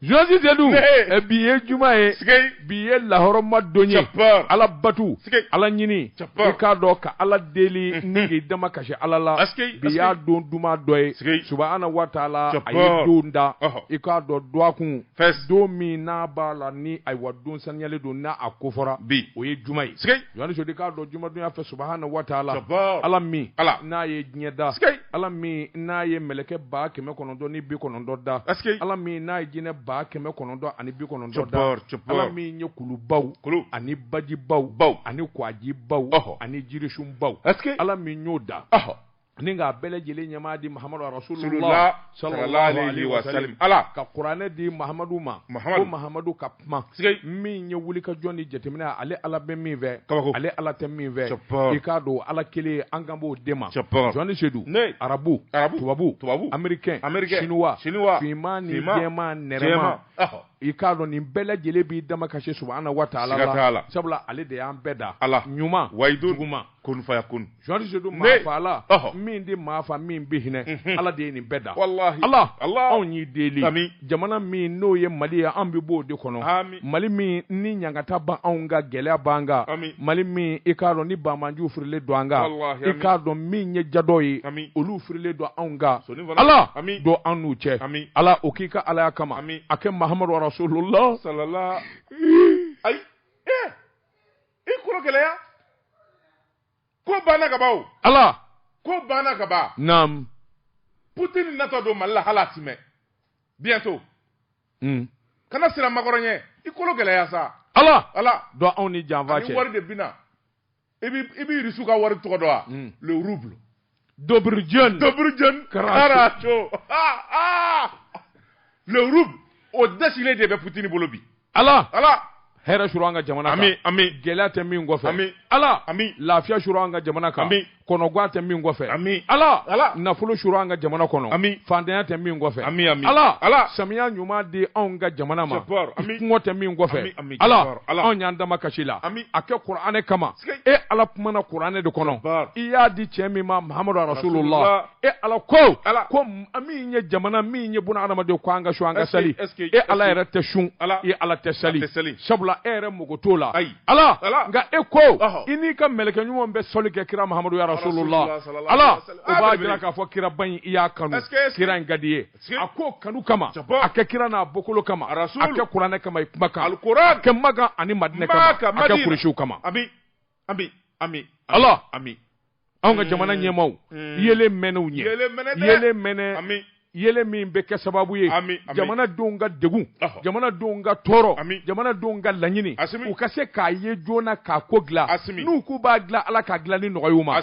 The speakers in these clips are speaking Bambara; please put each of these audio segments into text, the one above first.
Jɔnsi sedu bi ye juma ye bi ye lahɔrɔma don ye ala batu ala ɲini k'a dɔn ka ala deli ni k'i dama kasi ala la bi y'a don duman dɔ ye subahana wa taala a ye don da i k'a dɔn dɔgɔkun don min n'a b'a la ni ayiwa don saniyalen don n'a a ko fɔra bi o ye juma ye Jɔni Sedu i k'a dɔn juma don y'a fɛ subahana wa taala Jabaa. ala min Ala. n'a ye diɲɛ da Sikei. ala min n'a ye mɛlɛkɛ ba kɛmɛ kɔnɔntɔn ni bi kɔnɔntɔn da Ɛseke ala min n'a ye jinɛ ba kɛmɛ kɔnɔntɔn ani bi kɔnɔntɔn da Jabaa, jabaa. ala min ye kulubaw Kulu. ani bajibaw Baw. ani kwajibaw Ɔhɔ. ani jirisunbaw Ɛseke ala min y'o da Ɔhɔ. ni k'a bɛɛ lajɛlen ɲɛmaa di mahamadu rasulula salali wa ala ka kuranɛ di mahamadu ma ko mahamadu ka kuma min ye wuli ka jɔn ni jateminɛ ale ala bɛ min fɛ kaba ale ala tɛ min fɛ i k'a dɔn ala kelen an kan b'o de ma jɔni sedu arabu arabu tubabu tubabu amerikɛn siniwa siniwa finman ni jɛman nɛrɛma i k'a dɔn nin bɛɛ lajɛlen b'i dama kasi subahana wa taala la sabula ale de y'an bɛɛ da ala ɲuman wa i juguman kun fayakun jɔni sedu maafaala min di maafa min bɛ hinɛ mhm. ala de ye nin bɛɛ da walahi ala ala anw y'i deli ami jamana min n'o ye mali ye an bɛ b'o de kɔnɔ ami mali min ni ɲangata b'anw kan gɛlɛya b'an kan ami mali min i k'a dɔn ni banbaanciw firilen don an kan walahi i k'a dɔn min ye jadɔ ye ami olu firilen don anw kan ala ami don an n'u cɛ ami ala o k'i ka alaya kama ami a kɛ mahamadu rasulullah salala ayi ee eh! i kolo gɛlɛya ko banna kaban ala ko banna kaban naam putin natɔ don mali la hali asimi bientôt hmm. kana siran makɔrɔn ɲɛ i kolo gɛlɛya sa ala ala don anw ni janfa cɛ wari de bina i b'i irisiw ka wari tɔgɔ dɔn wa hmm. le rouble Dobrudjane. Dobrudjane Karacho. Ah, ah. Le rouble, o dɛsilen de bɛ Poutine bolo bi. Ala. Ala. hɛrɛ suuru an ka jamana kan ami ami gɛlɛya tɛ min kɔfɛ ami ala ami lafiya suuru an ka jamana kan ami kɔnɔgwan tɛ min kɔfɛ ami ala ala nafolo suuru an ka jamana kɔnɔ ami faantanya tɛ min kɔfɛ ami ami ala ala samiya ɲuman di anw ka jamana ma kɔngɔ tɛ min kɔfɛ ala ala anw y'an dama kasi i la ami a kɛ kuranɛ kama e ala kumana kuranɛ de kɔnɔ i y'a di cɛ min ma mahamadu arasulula e ala ko an min ye jamana min ye buna adamaden ko an ka sun an ka sali e ala yɛrɛ tɛ sun e ala tɛ sali sabula e yɛrɛ mago t'o la ala nka e ko i n'i ka mɛlɛkɛ ɲuman bɛ sɔli kɛ kira mahamadu arasulula ala o b'a jira k'a fɔ kiraba in i y'a kanu kira in ka d'i ye a k'o kanu kama a kɛ kira n'a bɔkolo kama a kɛ kuranɛ kama i kuma kan a kɛ makan ani madinɛ kama a kɛ kuresiw kama ala ami anw ka jamana ɲɛmaaw yeelen mɛnɛ u ɲɛ yeelen mɛnɛ yeelen min bɛ kɛ sababu ye jamana denw ka degun jamana denw ka tɔɔrɔ jamana denw ka laɲini u ka se k'a ye joona k'a ko dilan n'u k'u b'a dilan ala k'a dilan ni nɔgɔya ma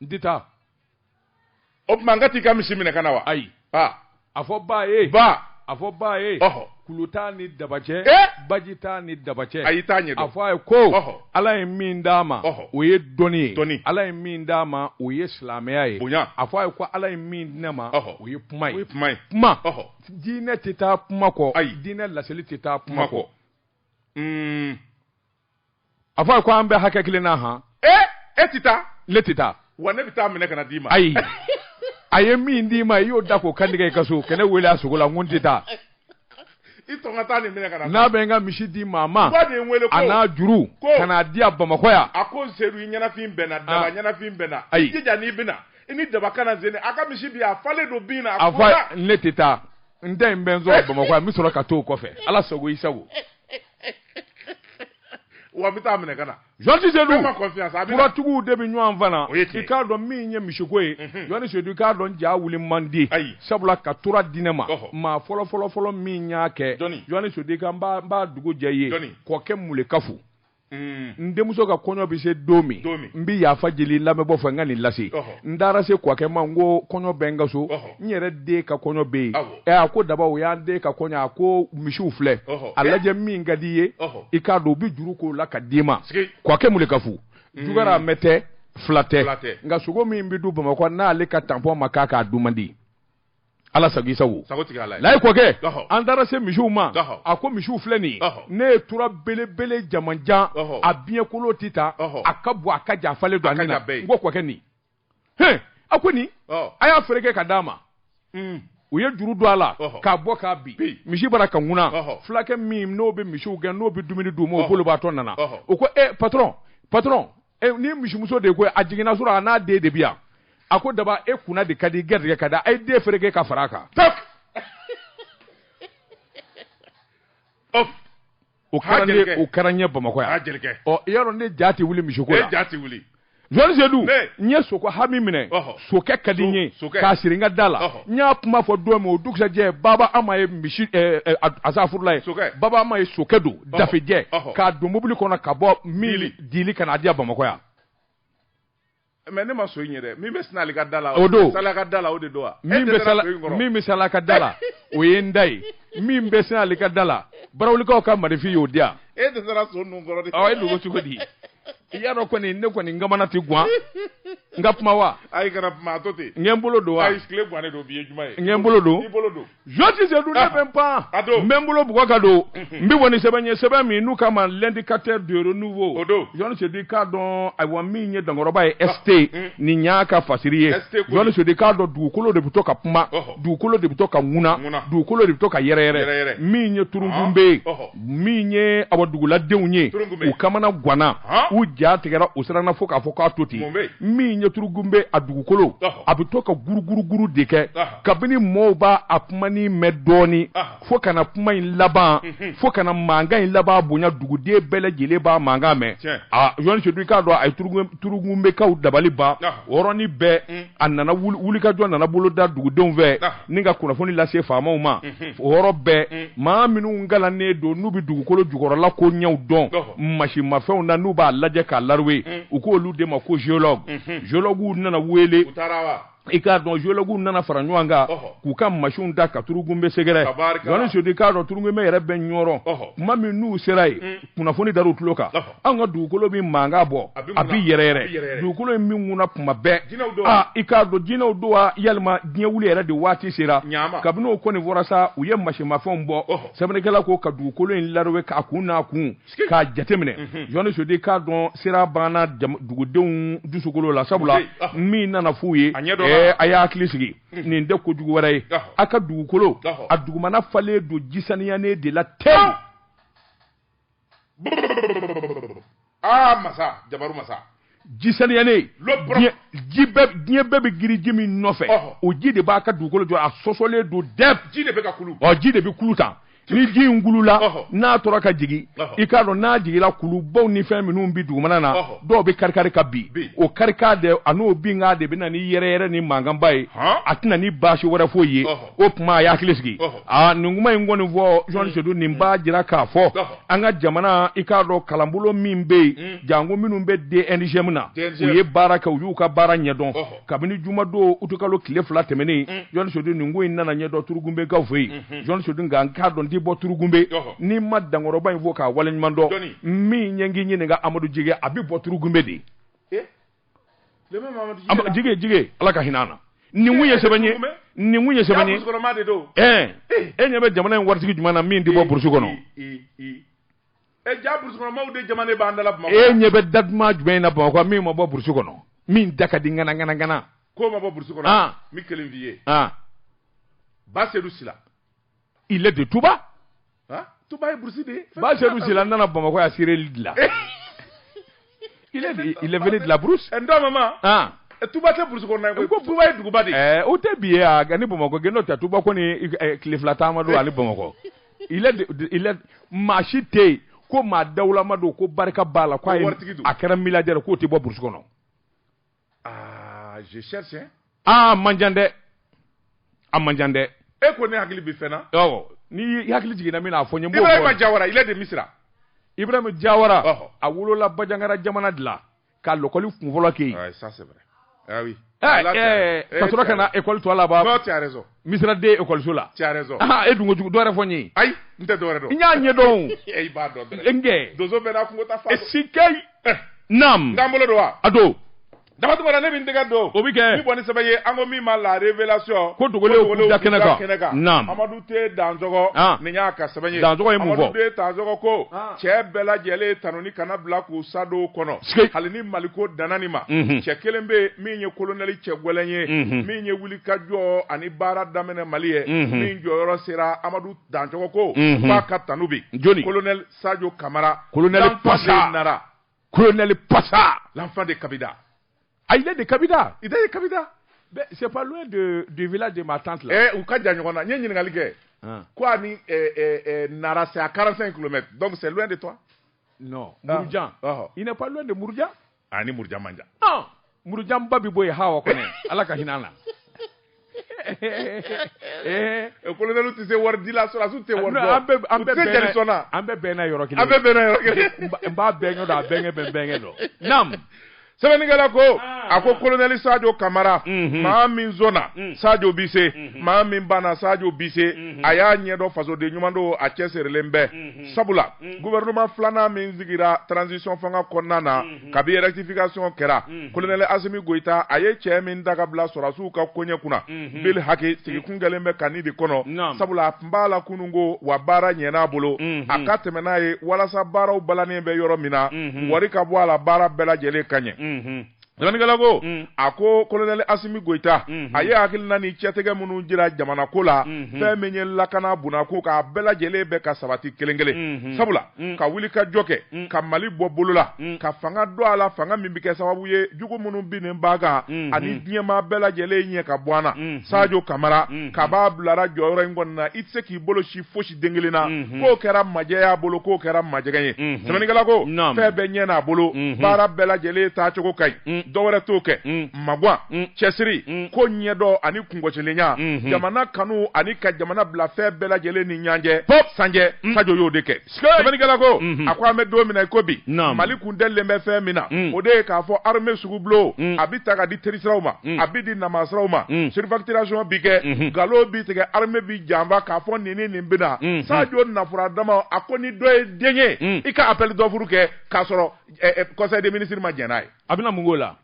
n tɛ taa o tuma n ka t'i ka misi minɛ ka na wa ayi aa a fɔ ba ye ba a fɔ ba ye ɔhɔ kulu t'a ni daba cɛ Eh! baji t'a ni daba cɛ a y'i t'a ɲɛ a dɔn fɔ a ye ko Ɔhɔ. ala ye min d'a ma Ɔhɔ. o ye dɔnni ye Dɔnni. ala ye min d'a ma o ye silamɛya ye Bonya. a fɔ a ye ko ala ye min di ne ma Ɔhɔ. o ye kuma ye kuma ɔhɔ diinɛ tɛ taa kuma kɔ Ayi. diinɛ laseli tɛ taa kuma kɔ Mm, a fɔ a ko an bɛ hakɛ kelen na han e e tɛ taa ne tɛ taa wa ne bɛ taa minɛ ka na d'i ma ayi a ye min d'i ma i y'o da k'o kantigɛ i ka so ka ne wele a sogo la n ko n tɛ taa i tɔn ka taa nin minɛ ka na n'a bɛ n ka misi di maa ma ba de ye n wele ko a n'a juru ko ka n'a di a bamakɔ yan a ko sedu i ɲɛnafin bɛ n na daba ah. ɲɛnafin bɛ n na i jija n'i bɛ na i ni daba ka na zeni a ka misi bi a falen don bin na a fɔ ne tɛ taa n tɛ nin bɛ n sɔrɔ bamakɔ yan n bɛ sɔrɔ ka t'o kɔfɛ ala sago i sago wa n bɛ taa minɛ ka na jɔnti sedu furatigiw de bɛ ɲɔgɔn fana i k'a dɔn min ye misiko ye mhm. jɔnni sedu i k'a dɔn ja wuli man di sabula ka tura di ne ma maa fɔlɔ fɔlɔ fɔlɔ min y'a kɛ jɔnni sedu i ka n b'a dugu jɛ i ye kɔkɛ mulekafu Mm. n denmuso ka kɔɲɔ bɛ se don min n bɛ yafa deli n lamɛnbaw fɛ n ka nin lase n taara se kɔkɛ ma n ko kɔɲɔ bɛ n ka so n yɛrɛ den ka kɔɲɔ bɛ yen ɛ a ko daba o y'an den ka kɔɲɔ a ko misiw filɛ a lajɛ min ka di i ye i k'a to u bɛ juru k'o la ka d'i ma kɔkɛ mulekafu mm. jogoramɛ tɛ fula tɛ nka sogo min bɛ dun bamakɔ n'ale ka tanpɔn ma k'a kan a dun man di ala sago i sago sago tigi ala layi kɔkɛ an taara se misiw ma a ko misiw filɛ nin ne ye tura belebele jamanjan a biɲɛkolo tɛ ta a ka bon a ka jan a falen don a ka bɛɛ ko kɔkɛ nin h a ko nin a y'a fereke ka d'a ma u ye juru don a la k'a bɔ k'a bin misi bara ka ŋuna fulakɛ min n'o bɛ misiw gɛn n'o bɛ dumuni d'u ma o bolibaatɔ nana o ko e patɔrɔn patɔrɔn nin misimuso de ko a jiginna surɔ a n'a den de bi yan a ko daba e kunna de ka di gɛrɛjigɛ ka di a ye den fereke ka fara a kan o kɛra ne o kɛra ɲɛ bamakɔ yan ɔ i y'a dɔn ne ja tɛ wuli misiko la ja tɛ wuli jɔnni sedu n ye soko hami minɛ sokɛ ka di n ye k'a siri n ka da la n y'a kuma fɔ don min o dugusajɛ baba ama ye misi asafurula ye baba ama ye sokɛ don dafejɛ k'a don mobili kɔnɔ ka bɔ mili di ka n'a di yan bamakɔ yan. mɛ ne ma so in ye dɛ min bɛ sinali ka da la. o don sala ka da la o de don wa. min bɛ sala min bɛ sala ka da la o ye n da ye min bɛ sinali ka da la barawulikaw ka marifin y'o di yan. e de taara so ninnu kɔrɔ de. ɔ e dogo cogo di. i y'a dɔn kɔni ne kɔni n kamana tɛ guwan n ka kuma wa. ayi kana kuma a to ten. n ka n bolo don wa. ayi tile guwannen don bi ye juma ye. n ka n bolo don. i bolo don. Jɔsi sedu ne bɛ n pan n bɛ n bolo bugɔ ka don n bɛ bɔ ni sɛbɛn ye sɛbɛn min n'u k'a ma l'Indicateur du Renouveau jɔnni sedu i k'a dɔn awa min ye dankɔrɔba ye ɛste nin y'a ka fasiri ye jɔnni sedu i k'a dɔn dugukolo de bɛ to ka kuma dugukolo de bɛ to ka ŋuna dugukolo de bɛ to ka yɛrɛyɛrɛ min ye turugunbe ye min ye a duguladenw ye u kamana ganna u ja tigɛra u siranna fo k'a fɔ k'a to ten min ye turugunbe a dugukolo a bɛ to ka guruguruguru de kɛ kabini mɔɔw b'a a kumanin mɛn dɔɔni Aha. fo ka na kuma in laban Mhm. fo ka na mankan in laban bonya duguden bɛɛ lajɛlen b'a mankan mɛn Tiɲɛ. a jɔnni sedu i k'a dɔn a ye turugun- turugunbekaw dabali ban Aha. o yɔrɔnin bɛɛ Mm. a nana wuli- wulikajɔ nana boloda dugudenw fɛ Aha. ni ka kunnafoni lase faamaw ma Mhm. o yɔrɔ bɛɛ Mm. maa minnu kalannen don n'u bɛ dugukolo jukɔrɔla koɲɛw dɔn Ɔhɔ. masinmafɛnw na n'u b'a lajɛ k'a laruwe Mm. u k'olu de ma ko géologue Mhm. geologuw nana wele U taara wa? i k'a dɔn geologuw nana fara ɲɔgɔn kan k'u ka masinw da ka turugunbe sɛgɛrɛ jɔnni sedu i k'a dɔn turugunbe yɛrɛ bɛ ɲɔrɔ kuma min n'u sera yen mm. kunnafoni dar'u tulo kan an ka dugukolo bɛ mankan bɔ a bɛ yɛrɛyɛrɛ dugukolo in bɛ ŋuna kuma bɛɛ aa i k'a dɔn jinɛw don wa yalima diɲɛ wuli yɛrɛ de waati sera kabini o kɔni fɔra sa u ye masinmafɛnw bɔ sɛbɛnnikɛla ko ka dugukolo in laruwe k'a kun n'a kun k'a jateminɛ jɔnni sedu i k'a dɔn siran banna dugudenw dusukolo la sabula ah. min nana f'u ye a y'a hakili sigi mhm. nin tɛ kojugu wɛrɛ ye ah. a ka dugukolo ah. a dugumana falen don ji saniyanen de la tewu aa masa jabaru masa ji saniyanen diɲɛ bɛɛ bɛ girin ji min nɔfɛ o ji de b'a ka dugukolo jɔ a sɔsɔlen don dɛp ji de bɛ ka kulu ɔ ji de bɛ kulu tan ni ji in kulula n'a tora ka jigin i k'a dɔn n'a jiginla kulubaw ni fɛn minnu bɛ dugumana na dɔw bɛ karikari ka bin o karikan de an'o binkan de bɛ na ni yɛrɛyɛrɛ ni mankanba ye a tɛ na ni baasi wɛrɛ foyi ye o tuma a y'a hakili sigi aa nin kuma in kɔni fɔ jɔnni sedu nin b'a jira k'a fɔ an ka jamana i k'a dɔn kalanbolo min bɛ yen mm. janko minnu bɛ DNGM na u ye baara kɛ u y'u ka baara ɲɛdɔn kabini jumadon utukalo tile fila tɛmɛnen mm. jɔnni sedu nin ko in nana ɲɛdɔn turugunbekaw fɛ yen mm-hmm. jɔnni sedu nka n k'a dɔn n ti bɔ turugunbe ni n ma dankɔrɔba in fo k'a waleɲuman dɔn min ɲɛngi ɲininka amadu jigɛ a bɛ bɔ turugunbe de jigi jigi ala ka hinɛ an na nin kun ye sɛbɛn ye nin kun ye sɛbɛn ye eh. e ɲɛ bɛ jamana in waritigi jumɛn na min tɛ bɔ burusi kɔnɔ e ɲɛ bɛ da duman jumɛn na bamakɔ min ma bɔ burusi kɔnɔ min da ka di ŋana ŋana ŋana ko ma bɔ burusi kɔnɔ ah. n bɛ kelen f'i ye ah. ba sedu sila il est de Touba. Hein? Touba ye burusi de ye. Ba Seydou Sila nana Bamakɔ yan sireli de la. Il est il est venu de la brousse. Un don maman. Ah. Touba tɛ burusi kɔnɔna ye ko Touba ye duguba de ye. Ɛɛ o tɛ bi ye a ni Bamakɔ cɛ n'o tɛ Touba kɔni tile fila taama don a ni Bamakɔ. Il est il est maa si tɛ yen ko maa dawulama don ko barika b'a la ko a ye a kɛra milliardaire k'o tɛ bɔ burusi kɔnɔ. aa man jan dɛ a man jan dɛ e ko ne hakili bɛ fɛn na n'i hakili jiginna min na a fɔ n ye ibrahima jawara il est de misira ibrahima jawara a wolola bajangara jamana de la ka lakɔli kunfɔlɔ kɛ yen ka sɔrɔ ka na ekɔli tɔ laban misira de ekɔliso la tu as raison ah e dun ko jugu dɔ wɛrɛ fɔ n ye ayi n tɛ dɔ wɛrɛ dɔn n y'a ɲɛ dɔn e i b'a dɔn dɔrɔn n kɛ donso bɛɛ n'a kungo taa fan si kɛ eh. naam n ka n bolo don wa a don dabatuma la ne bɛ n tɛgɛ don o bɛ kɛ min bɔ ni sɛbɛn ye an ko min ma la révélation ko dogolenw k'u da kɛnɛ kan kɛnɛ kan naam amadu te danzɔgɔ ah. nin y'a ka sɛbɛn ye danzɔgɔ ye mun fɔ amadu te danzɔgɔ ko ah. cɛ bɛɛ lajɛlen tanuni kana bila k'u sa don kɔnɔ hali ni maliko danna nin ma mhm. cɛ kelen bɛ min ye kolonɛli cɛ gɛlɛn ye mhm. min ye wuli ka jɔ ani baara daminɛ mali ye min jɔyɔrɔ sera amadu danzɔgɔ ko k'a ka tanu bi jɔn kolonɛ sajo kamara kolonɛ pasa nara kolonɛli pasa l'enfant de kabida ah il est de kabida il est de kabida c'est pas loin de du village de ma tante là eh u ka jan ɲɔgɔn na n ye ɲininkali kɛ ko a ni nara c'est à 45 km donc c'est loin de toi non murujan il n'est pas loin de murujan a ni murujan man jan ɔn murujan n ba bɛ bɔ yen hawa kɔnɛ ala ka hinɛ an na Eh, eh, kolonɛliw tɛ se wari di la sɔrɔdasiw tɛ wari dɔn an bɛɛ an bɛɛ bɛnna jeli sɔn na an bɛɛ bɛnna yɔrɔ kelen an bɛɛ bɛnna yɔrɔ kelen n b'a bɛnkɛ dɔn a bɛnkɛ bɛ n bɛnkɛ dɔn naam sɛbɛnnikɛla ko ah. a ko kolonɛli sajo kamara mhm. maa min sɔnna mm. sajo bi se mhm. maa min banna sajo bi se mhm. a y'a ɲɛdɔn fasoden ɲuman don a cɛsirilen bɛ sabula gouvernement filanan min sigira transition fanga kɔnɔna na kabi rectification kɛra colonel Asimi Goyita a ye cɛ min ta ka bila sɔrasiw ka koɲɛ kunna bil haki sigi kun kɛlen bɛ ka nin de kɔnɔ sabula a tun b'a la kunun ko wa baara ɲɛna a bolo a ka tɛmɛ n'a ye walasa baaraw balannen bɛ yɔrɔ min na wari ka bɔ a la baara bɛɛ lajɛlen ka ɲɛ. Sɛbɛnnikɛla ko mm. a ko kolonɛli asimi goyita mm-hmm. a ye hakilina ni cɛtigɛ minnu jira jamana ko la mm-hmm. fɛn min ye lakana bunda ko k'a bɛɛ lajɛlen bɛ ka sabati kelen kelen mm-hmm. sabula mm. ka wuli ka jɔ kɛ mm. ka mali bɔ bolo la ka fanga don a la fanga min bɛ kɛ sababu ye jugu minnu binnen b'a kan ani diɲɛmaa bɛɛ lajɛlen ɲɛ ka bɔ an na sajo kamara kab'a bilara jɔyɔrɔ in kɔnɔna i tɛ se k'i bolo sin fosi den kelen na mhm. k'o kɛra majɛ y'a bolo k'o kɛra majɛgɛ ye mhm. sɛbɛnnikɛla ko fɛn bɛɛ ɲɛ n'a bolo mhm. baara bɛɛ lajɛlen taacogo ka ɲi dɔ wɛrɛ t'o kɛ magwan cɛsiri ko ɲɛdɔn ani kungɔsilenya jamana kanu ani ka jamana bila fɛn bɛɛ lajɛlen ni ɲanjɛ sanjɛ sajo y'o de kɛ sɛbɛnnikɛla ko a ko an bɛ don min na i ko bi mali kun dɛlilen bɛ fɛn min na o de ye k'a fɔ armée sugubulon a bɛ ta ka di terisiraw ma a bɛ di namasiraw ma surfacturation bi kɛ nkalon bi tigɛ armée bi janfa k'a fɔ nin ni nin bɛna mm-hmm. sajo nafura dama a ko ni dɔ ye den ye mm. i ka appel d'offre kɛ k'a sɔrɔ eh, eh, conseil des ministres ma jɛn n'a ye a bɛna mun k'o la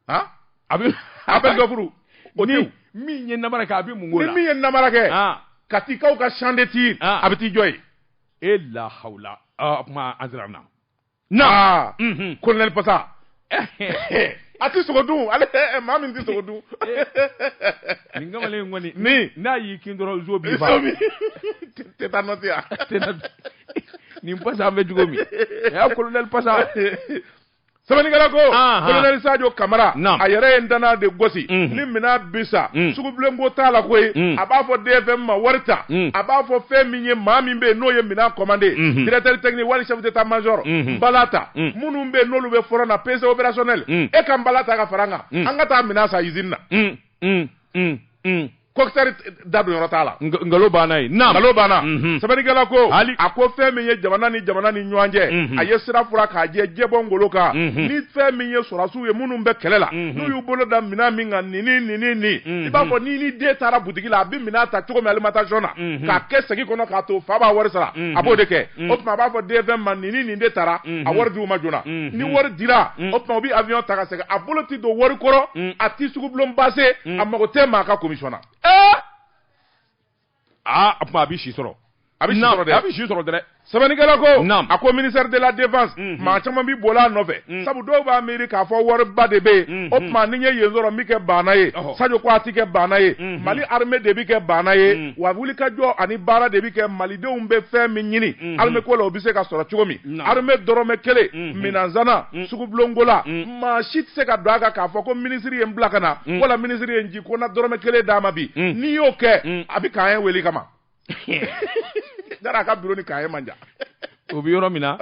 han a bɛ appel d'offre o ni min ye namara kɛ a bɛ mun k'o la ni min ye namara kɛ ah. Katikaw ka champ de tir ah. a bɛ t'i jɔ yen e lahawula ah, o tuma an sera na na kolonɛli pasa a tɛ sogo dun ale maa min tɛ sogo dun nin kamalen kɔni min n'a y'i kin dɔrɔn zo b'i fa tɛ taa nɔ yan nin pasa an bɛ cogo min a y'a kolonɛli pasa sɛbɛnnikɛla ko kolonɛli sajo kamara a yɛrɛ ye ndanna de gosi ni minɛn bi san sugubulonko t'a la koyi a b'a fɔ DFM ma wari ta a b'a fɔ fɛn min ye maa min bɛ yen n'o ye minɛn commandé directeur technique wali chef d'état major bala ta minnu bɛ yen n'olu bɛ front na PC opérationnel e ka bala ta ka fara an kan an ka taa minɛn san usine na kɔkisɛri da don yɔrɔ t'a la nkalon banna ye nkalon banna sɛbɛnnikɛla ko a ko fɛn min ye jamana ni jamana ni ɲɔgɔn cɛ a ye sira furan k'a jɛ jɛbɔ ngolo kan ni fɛn min ye sɔrɔ u ye minnu bɛ kɛlɛ la n'u y'u bolo da minɛn min kan ni ni ni ni ni i b'a fɔ ni ni den taara butigi la a bɛ minɛn ta cogo min alimentation na k'a kɛ segi kɔnɔ k'a to fa b'a wari sara a b'o de kɛ o tuma a b'a fɔ DFM ma ni ni nin de taara a wari d'u ma joona ni wari dira o tuma u bɛ avion ta ka segin a bolo tɛ don wari kɔrɔ a tɛ sugubulon base a mago tɛ maa ka commission na. aa a tuma a bɛ si sɔrɔ a bɛ si sɔrɔ dɛ a bɛ si sɔrɔ dɛ sɛbɛnnikɛla ko a ko ministère de la défense mhm. maa caman bɛ boli a nɔfɛ mhm. sabu dɔw b'a miiri k'a fɔ wariba de bɛ yen mhm. o tuma ni n ye yen sɔrɔ n bɛ kɛ baana ye Sadio ko a tɛ kɛ baana ye Mali armée de bɛ kɛ baana ye wa wulikajɔ ani baara de bɛ kɛ Malidenw bɛ fɛn min ɲini armée ko la o bɛ se ka sɔrɔ cogo min armée dɔrɔmɛ kelen minɛnsanna sugubulonko la maa si tɛ se ka don a kan k'a fɔ ko minisiri ye n bila ka na wala minisiri ye n ko na dɔrɔmɛ kelen d'a ma bi mm. n'i y'o kɛ mm. a bɛ k'an ye wele kama dara a ka biro ni k'an ye man jan o bɛ yɔrɔ min na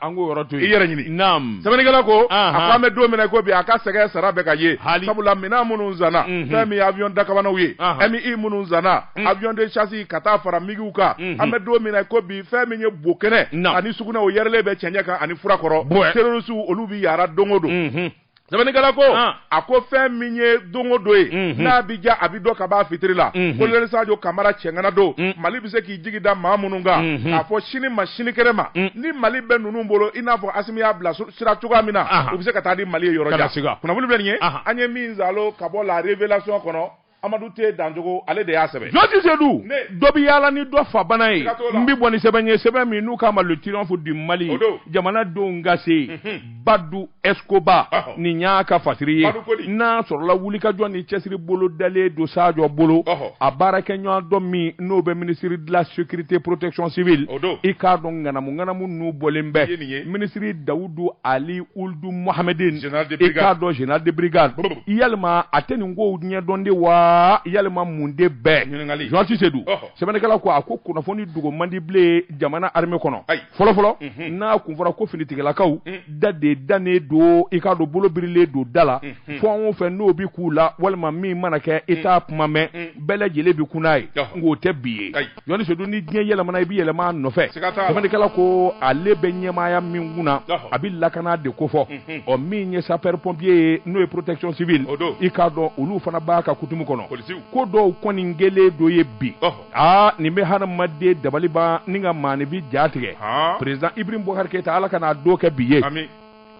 an k'o yɔrɔ to yen i yɛrɛ ɲini naam sɛbɛnnikɛla ko a ko an bɛ don min na i ko bi a ka sɛgɛn sara bɛ ka ye sabula minɛn minnu sanna mhm. fɛn min ye avion dakabanaw ye MI minnu sanna mm. avion de chasse ka taa fara migiw kan mhm. an bɛ don min na i ko bi fɛn min ye bo kɛnɛ ani sugunɛ o yɛrɛlen bɛ cɛncɛn kan ani fura kɔrɔ terrorisiw olu bɛ yaara don o don mhm. Sɛbɛnnikɛla ko a ko fɛn min ye don o don ye n'a bɛ ja a bɛ dɔn ka b'a fitiri la colonel Sadio Kamara cɛŋana don mali bɛ se k'i jigi da maa minnu kan k'a fɔ sini ma sinikɛnɛ ma ni mali bɛ ninnu bolo i n'a fɔ Assimi y'a bila sira cogoya min na u bɛ se ka taa di mali ye yɔrɔ jan kunnafoni bɛ nin ye an ye min sɔrɔ ka bɔ La Révélation kɔnɔ amadu T dancogo ale de y'a sɛbɛn journaliste Seydou dɔ bɛ yaala ni dɔ fa bana ye n bɛ bɔ ni sɛbɛn ye sɛbɛn min n'u k'a ma le triomphe du mali jamanadenw ka se mhm. badu Escobar nin y'a ka fasiri ye n'a sɔrɔla wulikajɔ ni cɛsiri bolo dalen don sajɔ bolo a baarakɛɲɔgɔn dɔ min n'o bɛ ministre de la sécurité protection civile i k'a dɔn ŋanamu ŋanamu n'u bɔlen bɛ minisiri dawudu ali ul du Mohamedine i k'a dɔn général de brigade yalima a tɛ nin kow ɲɛdɔn de wa yalima mun de bɛɛ journaliste Seydou sɛbɛnnikɛla ko a ko kunnafoni dogo man di bilen jamana armée kɔnɔ fɔlɔ fɔlɔ mhm. n'a kun fɔra ko finitigilakaw mm. da de dannen don i k'a dɔn bolo birilen don da la mhm. fɛn o fɛn n'o bi k'u la walima min mana kɛ i t'a mm. kuma mɛn mm. bɛɛ lajɛlen bi kun n'a ye nk'o tɛ bi ye journaliste Seydou ni diɲɛ yɛlɛmana i bɛ yɛlɛma a nɔfɛ sɛbɛnnikɛla ko ale bɛ ɲɛmaaya min kun na a bɛ lakana de ko fɔ mhm. ɔ min ye sapeur pompier ye n'o ye protection civile i k'a dɔn olu fana b'a ka kutumu kɔnɔ ko dɔw kɔni gɛlɛn dɔ ye bi aa nin bɛ hadamaden dabali ban ni ka maaninfin ja tigɛ président Ibrahim Boubacar Keïta ala kan'a don kɛ bi ye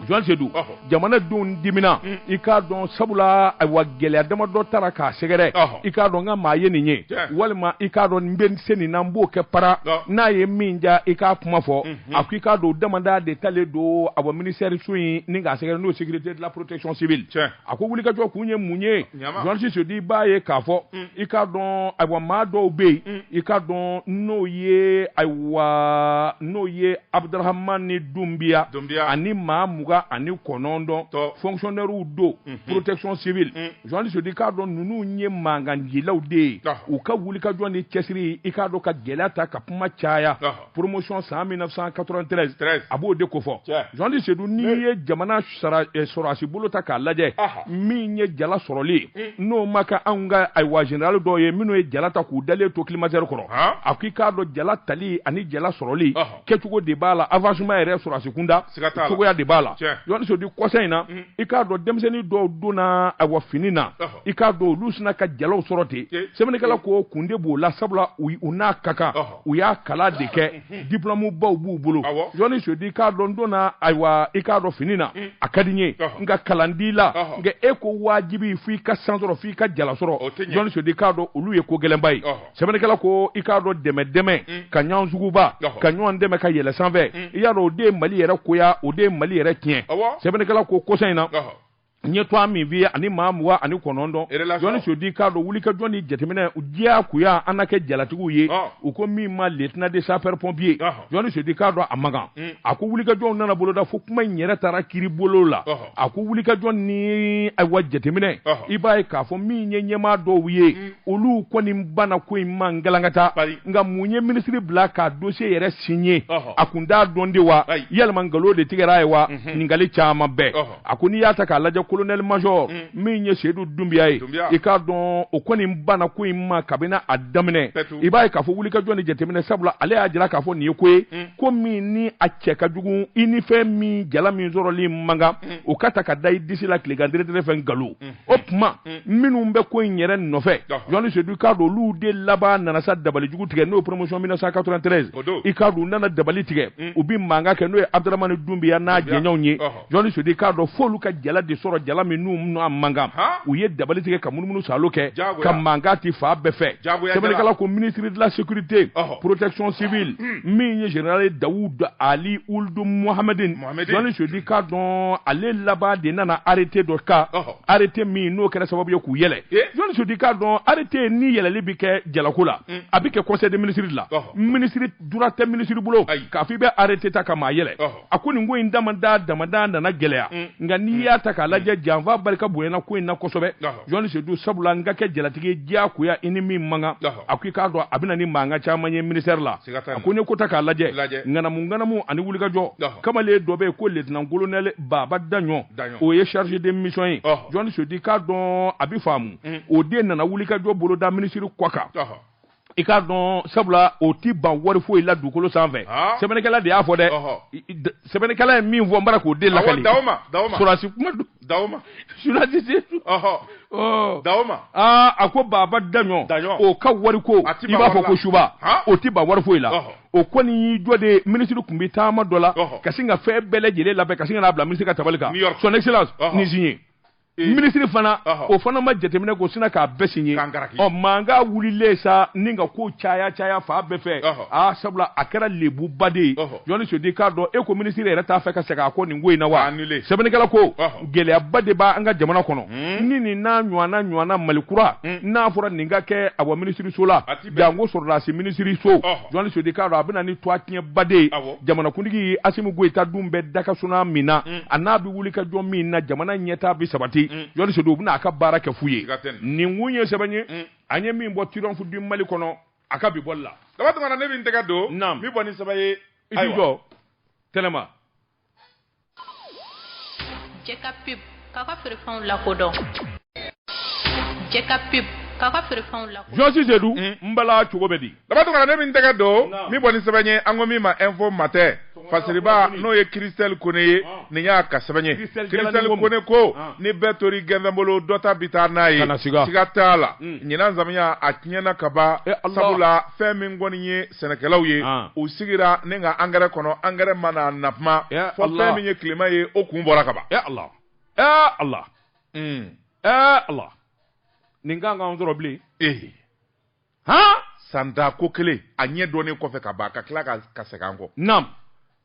journaliste Seydou jamanadenw dimina mm. i k'a dɔn sabula ayiwa gɛlɛya dama dɔ taara k'a sɛgɛrɛ i k'a dɔn n ka maa ye nin ye walima i k'a dɔn n bɛ se nin na n b'o kɛ para n'a ye min ja i k'a kuma fɔ mm-hmm. a ko i k'a dɔn damada de talen don a bɔ minisɛriso in ni k'a sɛgɛrɛ n'o sécurité de la protection civile a ko wulikajɔ kun ye mun ye journaliste Seydou i b'a ye k'a fɔ mm. i k'a dɔn ayiwa maa dɔw bɛ yen mm. i k'a dɔn n'o ye ayiwa n'o ye abudurahamani dunbiya ani maa mugan ani kɔnɔntɔn fɔnkisɔnɛriw don mhm. protection civile journaliste mm. Seydou i k'a dɔn ninnu ye mankancilaw de ye u ka wulikajɔ ni cɛsiri i k'a dɔn ka gɛlɛya ta ka kuma caya promotion san 1993 a b'o de ko fɔ jɔndi sedu n'i ye jamana eh, sɔrɔasi bolo ta k'a lajɛ min ye jala sɔrɔli hmm. n'o ma kɛ anw ka ayiwa generali dɔw ye minnu ye jala ta k'u dalen to climatiseur kɔrɔ a ko i k'a dɔn jala tali ani jala sɔrɔli kɛcogo de b'a la avancement yɛrɛ sɔrɔasi kunda cogoya de b'a la jɔndi sedu kɔsa in na hmm. i k'a dɔn denmisɛnnin dɔw donna ayiwa fini na i k'a dɔn olu sinna ka jalaw sɔrɔ ten sɛbɛnnikɛla ko kun de b'o la sabula u n'a ka kan u y'a kalan de kɛ diplɔmubaw b'u bolo jɔni sedu i k'a dɔn donna ayiwa i k'a dɔn fini na mm. a ka di n ye nka kalan t'i la nka e ko wajibi fo i ka san sɔrɔ fo i ka jala sɔrɔ jɔni sedu i k'a dɔn olu ye ko gɛlɛnba ye sɛbɛnnikɛla ko i k'a dɔn dɛmɛ dɛmɛ mm. ka ɲɔgɔn suguba ka ɲɔgɔn dɛmɛ ka yɛlɛ sanfɛ mm. i y'a dɔn o de ye mali yɛrɛ koya o de ye mali yɛrɛ tiɲɛ sɛbɛnnikɛla ko kɔsa in na n ye tɔgɔ min f'i ye ani maa mugan ani kɔnɔntɔn jɔni sedu i k'a dɔn wulikajɔ ni jateminɛ diyagoya an na kɛ jalatigiw ye u ko min ma lieutenant de sapeur pompier jɔni sedu i k'a dɔn a man kan mm. a ko wulikajɔw nana boloda fo kuma in yɛrɛ taara kiiri bolo la a ko wulikajɔ ni ayiwa jateminɛ i b'a ye k'a fɔ min ye ɲɛmaa dɔw ye mm. olu kɔni banna ko in ma galankata nka mun ye minisiri bila k'a dosiye yɛrɛ siɲe a kun t'a dɔn de wa yalima nkalon de tigɛra a ye wa mm-hmm. ɲininkali caman bɛɛ a ko n'i y'a ta k'a lajɛ kolonɛli majɔri mm. min ye seyidu dunbiya ye i k'a dɔn o kɔni banna ko in ma kabini a daminɛ i b'a ye k'a fɔ wulikajɔ ni jateminɛ sabula ale y'a jira k'a fɔ nin ye ko ye mm. ko min ni a cɛ ka jugu i ni fɛn min jala min sɔrɔli man kan mm. o ka ta ka da i disi la tilegan deredere fɛ nkalon o tuma minnu bɛ ko in yɛrɛ nɔfɛ jɔni seyidu i k'a dɔn olu de laban nana sa dabali jugu tigɛ n'o ye promotion 1993 i k'a dɔn u nana dabali tigɛ u bɛ mankan kɛ n'o ye abudramani dunbiya n'a jɛɲɔgɔnw ye jɔni sedu i k'a dɔn f'olu ka jala de sɔrɔ jala min n'u n'a man kan u ye dabali tigɛ ka munumunu saalo kɛ ka mankan ti fan bɛɛ fɛ sɛbɛnnikɛla ko ministre de la sécurité protection civile hmm. min ye général dawud ali uldu mohamedin jɔni sedu i k'a dɔn ale laban de nana arrêté dɔ ta arrêté min n'o kɛra sababu ye k'u yɛlɛ jɔni sedu i k'a dɔn arrêté ni yɛlɛli bi kɛ jalako la hmm. a bi kɛ conseil des ministres de la ministre droit tɛ ministre bolo k'a fɔ i bɛ arrêté ta ka maa yɛlɛ a ko nin ko in damada damada nana gɛlɛya mm. nka n'i mm. y'a ta k'a lajɛ mm. janfa barika bonyana ko in na kosɛbɛ jɔni sedu sabula n ka kɛ jalatigi diyagoya i ni min man kan a ko i k'a dɔn a bɛna ni mankan caman ye ministère la a ko ne ko ta k'a lajɛ ŋanamu ŋanamu ani wulikajɔ kamalen dɔ bɛ yen ko letinan kolonɛli baba daɲɔ o ye chargé de mission ye jɔni sedu i k'a dɔn a bɛ faamu o de nana wulikajɔ boloda minisiri kɔ kan i k'a dɔn sabula o tɛ ban wari foyi la dugukolo sanfɛ ah. sɛbɛnnikɛla de y'a fɔ dɛ sɛbɛnnikɛla ye min fɔ n bara k'o de lakali sɔrɔdasi kuma don sɔrɔdasi dama aa a ko baba daɲɔ o ka wari ko i b'a fɔ ko suba o tɛ ban wari foyi la o kɔni y'i jɔ de minisiri tun bɛ taama dɔ la ka sin ka fɛn bɛɛ lajɛlen labɛn ka sin ka n'a bila minisiri ka tabali kan son excellence nin signé minisiri fana o fana ma jateminɛ kɛ o sinna k'a bɛɛ signé ɔ mankan wulilen sa nin ka ko caya caya fan bɛɛ fɛ aa sabula a kɛra lebuba de ye journaliste dit k'a dɔn e ko minisiri yɛrɛ t'a fɛ ka segin a kɔ nin ko in na wa sɛbɛnnikɛla ko gɛlɛyaba de b'an ka jamana kɔnɔ ni nin n'a ɲɔgɔnna ɲɔgɔnna mali kura n'a fɔra nin ka kɛ a wa minisiriso la jango sɔrɔdasi minisiriso journaliste dit k'a dɔn a bɛna ni tuwatiɲɛba de ye jamanakuntigi asimi goyita dun bɛ dakasuna min na mm. a n'a bɛ wulikajɔ min na jamana ɲɛtaa bɛ sabati mm. journaliste dit u bɛna a ka baara kɛ fu ye nin kun ye sɛbɛn ye mm. an ye min bɔ triomphe du mali kɔnɔ a ka bi bɔli la daba tunkara ne bɛ n tɛgɛ don n bɛ bɔ ni sɛbɛn ye i jɔ tɛnɛma Jɛka pub k'a ka feerefɛnw lakodɔn jɛka pub k'a ka feerefɛnw lakodɔn jɔsi sedu n bala cogo bɛ di daba tunkara ne bɛ n tɛgɛ don n bɛ bɔ ni sɛbɛn ye an ko min ma info matin fasiriba n'o ye christelle kone ye nin y'a ka sɛbɛn ye christelle kone ko ni bɛɛ tori gɛnfɛn bolo dɔ ta bi taa n'a ye siga t'a la ɲinan samiya a tiɲɛna ka ban sabula fɛn min kɔni ye sɛnɛkɛlaw ye u sigira nin ka angɛrɛ kɔnɔ angɛrɛ ma na fo ma fɔ fɛn min ye tilema ye o kun bɔra ka ban ala ala ala nin kan k'an sɔrɔ bilen ee h san tan ko kelen a ɲɛ dɔnnen kɔfɛ ka ban ka tila ka ka segin an kɔ na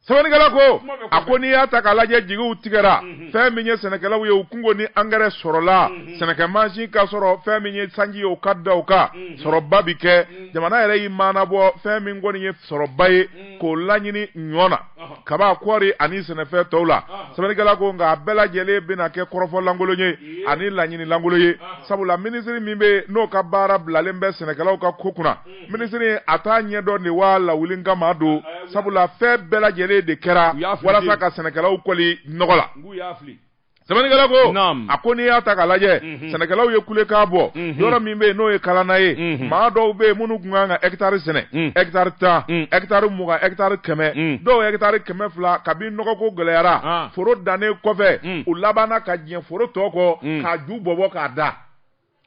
sɛbɛnnikɛla ko a ko n'i y'a ta k'a lajɛ jigiw tigɛra mhm. fɛn min ye sɛnɛkɛlaw ye u kun ko ni angɛrɛ sɔrɔla mhm. sɛnɛkɛ mansin ka sɔrɔ fɛn min ye sanji ye o ka da o kan mhm. sɔrɔba bi kɛ jamana yɛrɛ y'i maanabɔ fɛn min kɔni ye sɔrɔba ye k'o laɲini ɲɔ na kaba kɔɔri ani sɛnɛfɛn tɔw la sɛbɛnnikɛla ko nka a bɛɛ lajɛlen bɛna kɛ kɔrɔfɔlankolon ye ani laɲinilankolon ye sabula minisiri min bɛ yen n'o ka baara bilalen bɛ sɛnɛkɛlaw ka ko kunna minisiri a t'a ɲɛdɔn de wa a lawuli kama don sabula fɛn bɛɛ lajɛlen de kɛra walasa ka sɛnɛkɛlaw kɔli nɔgɔ la sɛbɛnnikɛla ko a ko n'i y'a ta k'a lajɛ mhm. sɛnɛkɛlaw ye kulekan bɔ mhm. yɔrɔ min bɛ yen n'o ye kalana ye mhm. maa dɔw bɛ yen minnu tun kan ka ɛkitari sɛnɛ ɛkitari tan ɛkitari mugan ɛkitari kɛmɛ dɔw ɛkitari kɛmɛ fila kabi nɔgɔko gɛlɛyara ah. foro dannen kɔfɛ u labanna ka diɲɛ foro tɔ kɔ k'a ju bɔbɔ k'a da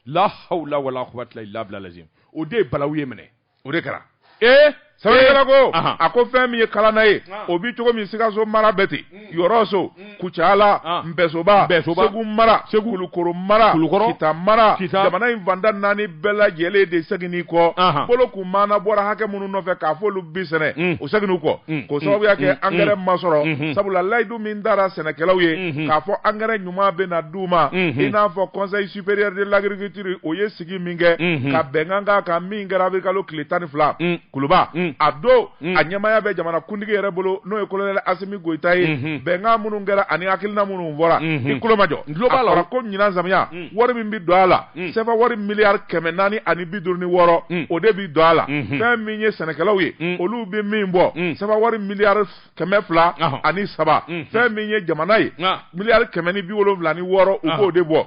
la hawla wala quwwata illa billah lazim o de ye balawu ye minɛ o de kɛra ee eh? sɛbɛnnikɛla ko eh? a ko fɛn min ye kalana ye ah. o bi cogo min sikaso mara bɛ ten hmm. yɔrɔso hmm. kucala ah. npɛsoba segu mara kulukoro mara kita mara jamana in fanda naani bɛɛ lajɛlen de segini kɔ ah. bolo kun maana bɔra hakɛ minnu nɔfɛ k'a fɔ olu bi sɛnɛ hmm. o segini kɔ k'o sababuya kɛ angɛrɛ ma sɔrɔ sabula layidu min tara sɛnɛkɛlaw ye k'a fɔ angɛrɛ ɲuman bɛ na d'u ma i n'a fɔ conseil supérieur de l'agriculture o ye sigi min kɛ ka bɛnkan k'a kan min kɛra avril kalo tile tan ni fila kuluba a don a ɲɛmaaya bɛ jamana kuntigi yɛrɛ bolo n'o ye colonel Asimi Goyita ye bɛnkan minnu kɛra ani hakilina minnu fɔra i tulo majɔ a fɔra ko ɲinan samiya wari min bɛ don a la CFA wari miliyari kɛmɛ naani ani bi duuru ni wɔɔrɔ o de bɛ don a la fɛn min ye sɛnɛkɛlaw ye olu bɛ min bɔ CFA wari miliyari kɛmɛ fila ani saba fɛn min ye jamana ye miliyari kɛmɛ ni bi wolowula ni wɔɔrɔ u b'o de bɔ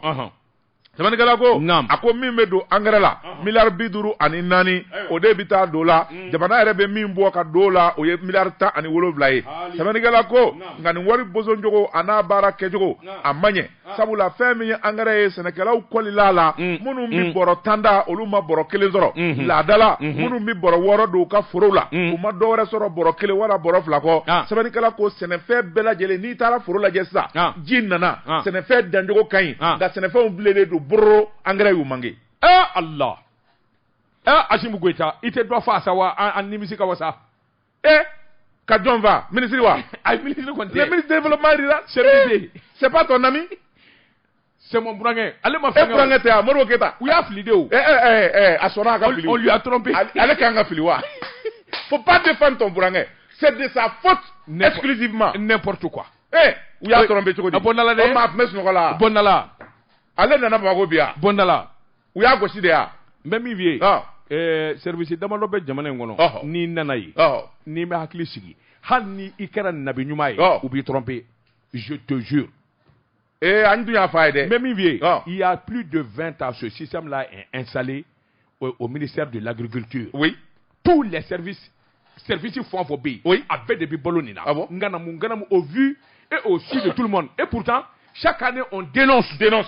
sɛbɛnnikɛla ko a ko min bɛ don angɛrɛ la miliyari bi duuru ani naani o de bɛ taa don la mm. jamana yɛrɛ bɛ min bɔ ka don la o ye miliyari tan ani wolowula ye sɛbɛnnikɛla ko nka nin wari bosoncogo an'a baara kɛcogo a ma ɲɛ Ah. sabula fɛn min ye angɛrɛ ye sɛnɛkɛlaw kɔlila la mm, minnu bɛ mm. bɔrɔ tan ta olu ma bɔrɔ kelen sɔrɔ mm-hmm. laadala mm-hmm. minnu bɛ bɔrɔ wɔɔrɔ don u ka forow la mm. u ma dɔwɛrɛ sɔrɔ bɔrɔ kelen wala bɔrɔ fila kɔ ah. sɛbɛnnikɛla ko sɛnɛfɛn bɛɛ lajɛlen n'i taara foro lajɛ sisan ah. ji nana sɛnɛfɛn dancogo ka ɲi nka sɛnɛfɛnw bilenlen don bawo angɛrɛ y'u manqué ee ala ee Asimi Goyita i tɛ dɔ fa sa wa an nimisi ka wasa ee ka jɔn fa minisiri wa ayi minisiri kɔni tɛ ministre de développement rural c'est pas ton ami c'est mon burankɛ ale ma fɛn kɛ burankɛ tɛ a Modibo Keyita u y'a fili de o ɛɛ ɛɛ ɛɛ a sɔnna a ka fili on lui a trompé ale kan ka fili wa faut pas défendre ton burankɛ c'est de sa faute exclusivement n'importe quoi ee u y'a trompé cogo di a bɔ nala dɛ o maa tun bɛ sunɔgɔ la bɔ nala ale nana Bamakɔ bi yan bɔ nala u y'a gosi de yan n bɛ min f'i ye ɛɛ service damadɔ bɛ jamana in kɔnɔ n'i nana yen n'i m'i hakili sigi hali ni i kɛra nabi ɲuman ye u b'i tromper je te jure ee an dun y'a fɔ a ye dɛ n bɛ min f'i ye il y a plus de 20 ans ce système là est installé au, au ministère de l'agriculture oui tous les services service fɛn o fɛn bɛ yen a bɛɛ de bɛ balo nin na ah nganamu nganamu au vu et au su de tout le monde et pourtant chaque année on dénonce dénonce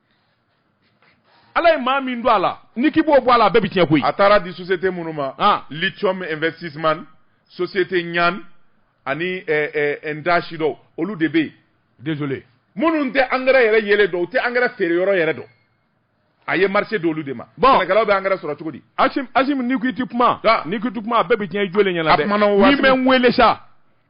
ala ye maa min don a la n'i k'i b'o bɔ a la a bɛɛ bɛ tiɲɛ koyi a taara di société minnu ma ah. lithium investissement société ɲan ani eh, eh, ndashi dɔw olu de bɛ yen désolé minnu tɛ angɛrɛ yɛrɛ yelen dɔn u tɛ angɛrɛ feere yɔrɔ yɛrɛ dɔn a ye marché d'olu de ma bon sɛnɛkɛlaw bɛ angɛrɛ sɔrɔ cogo di asim asim n'i ko i tɛ kuma n'i ko i tɛ kuma a bɛɛ bɛ tiɲɛ i jɔlen ɲɛna dɛ a kumana o waati min bɛ n wele sa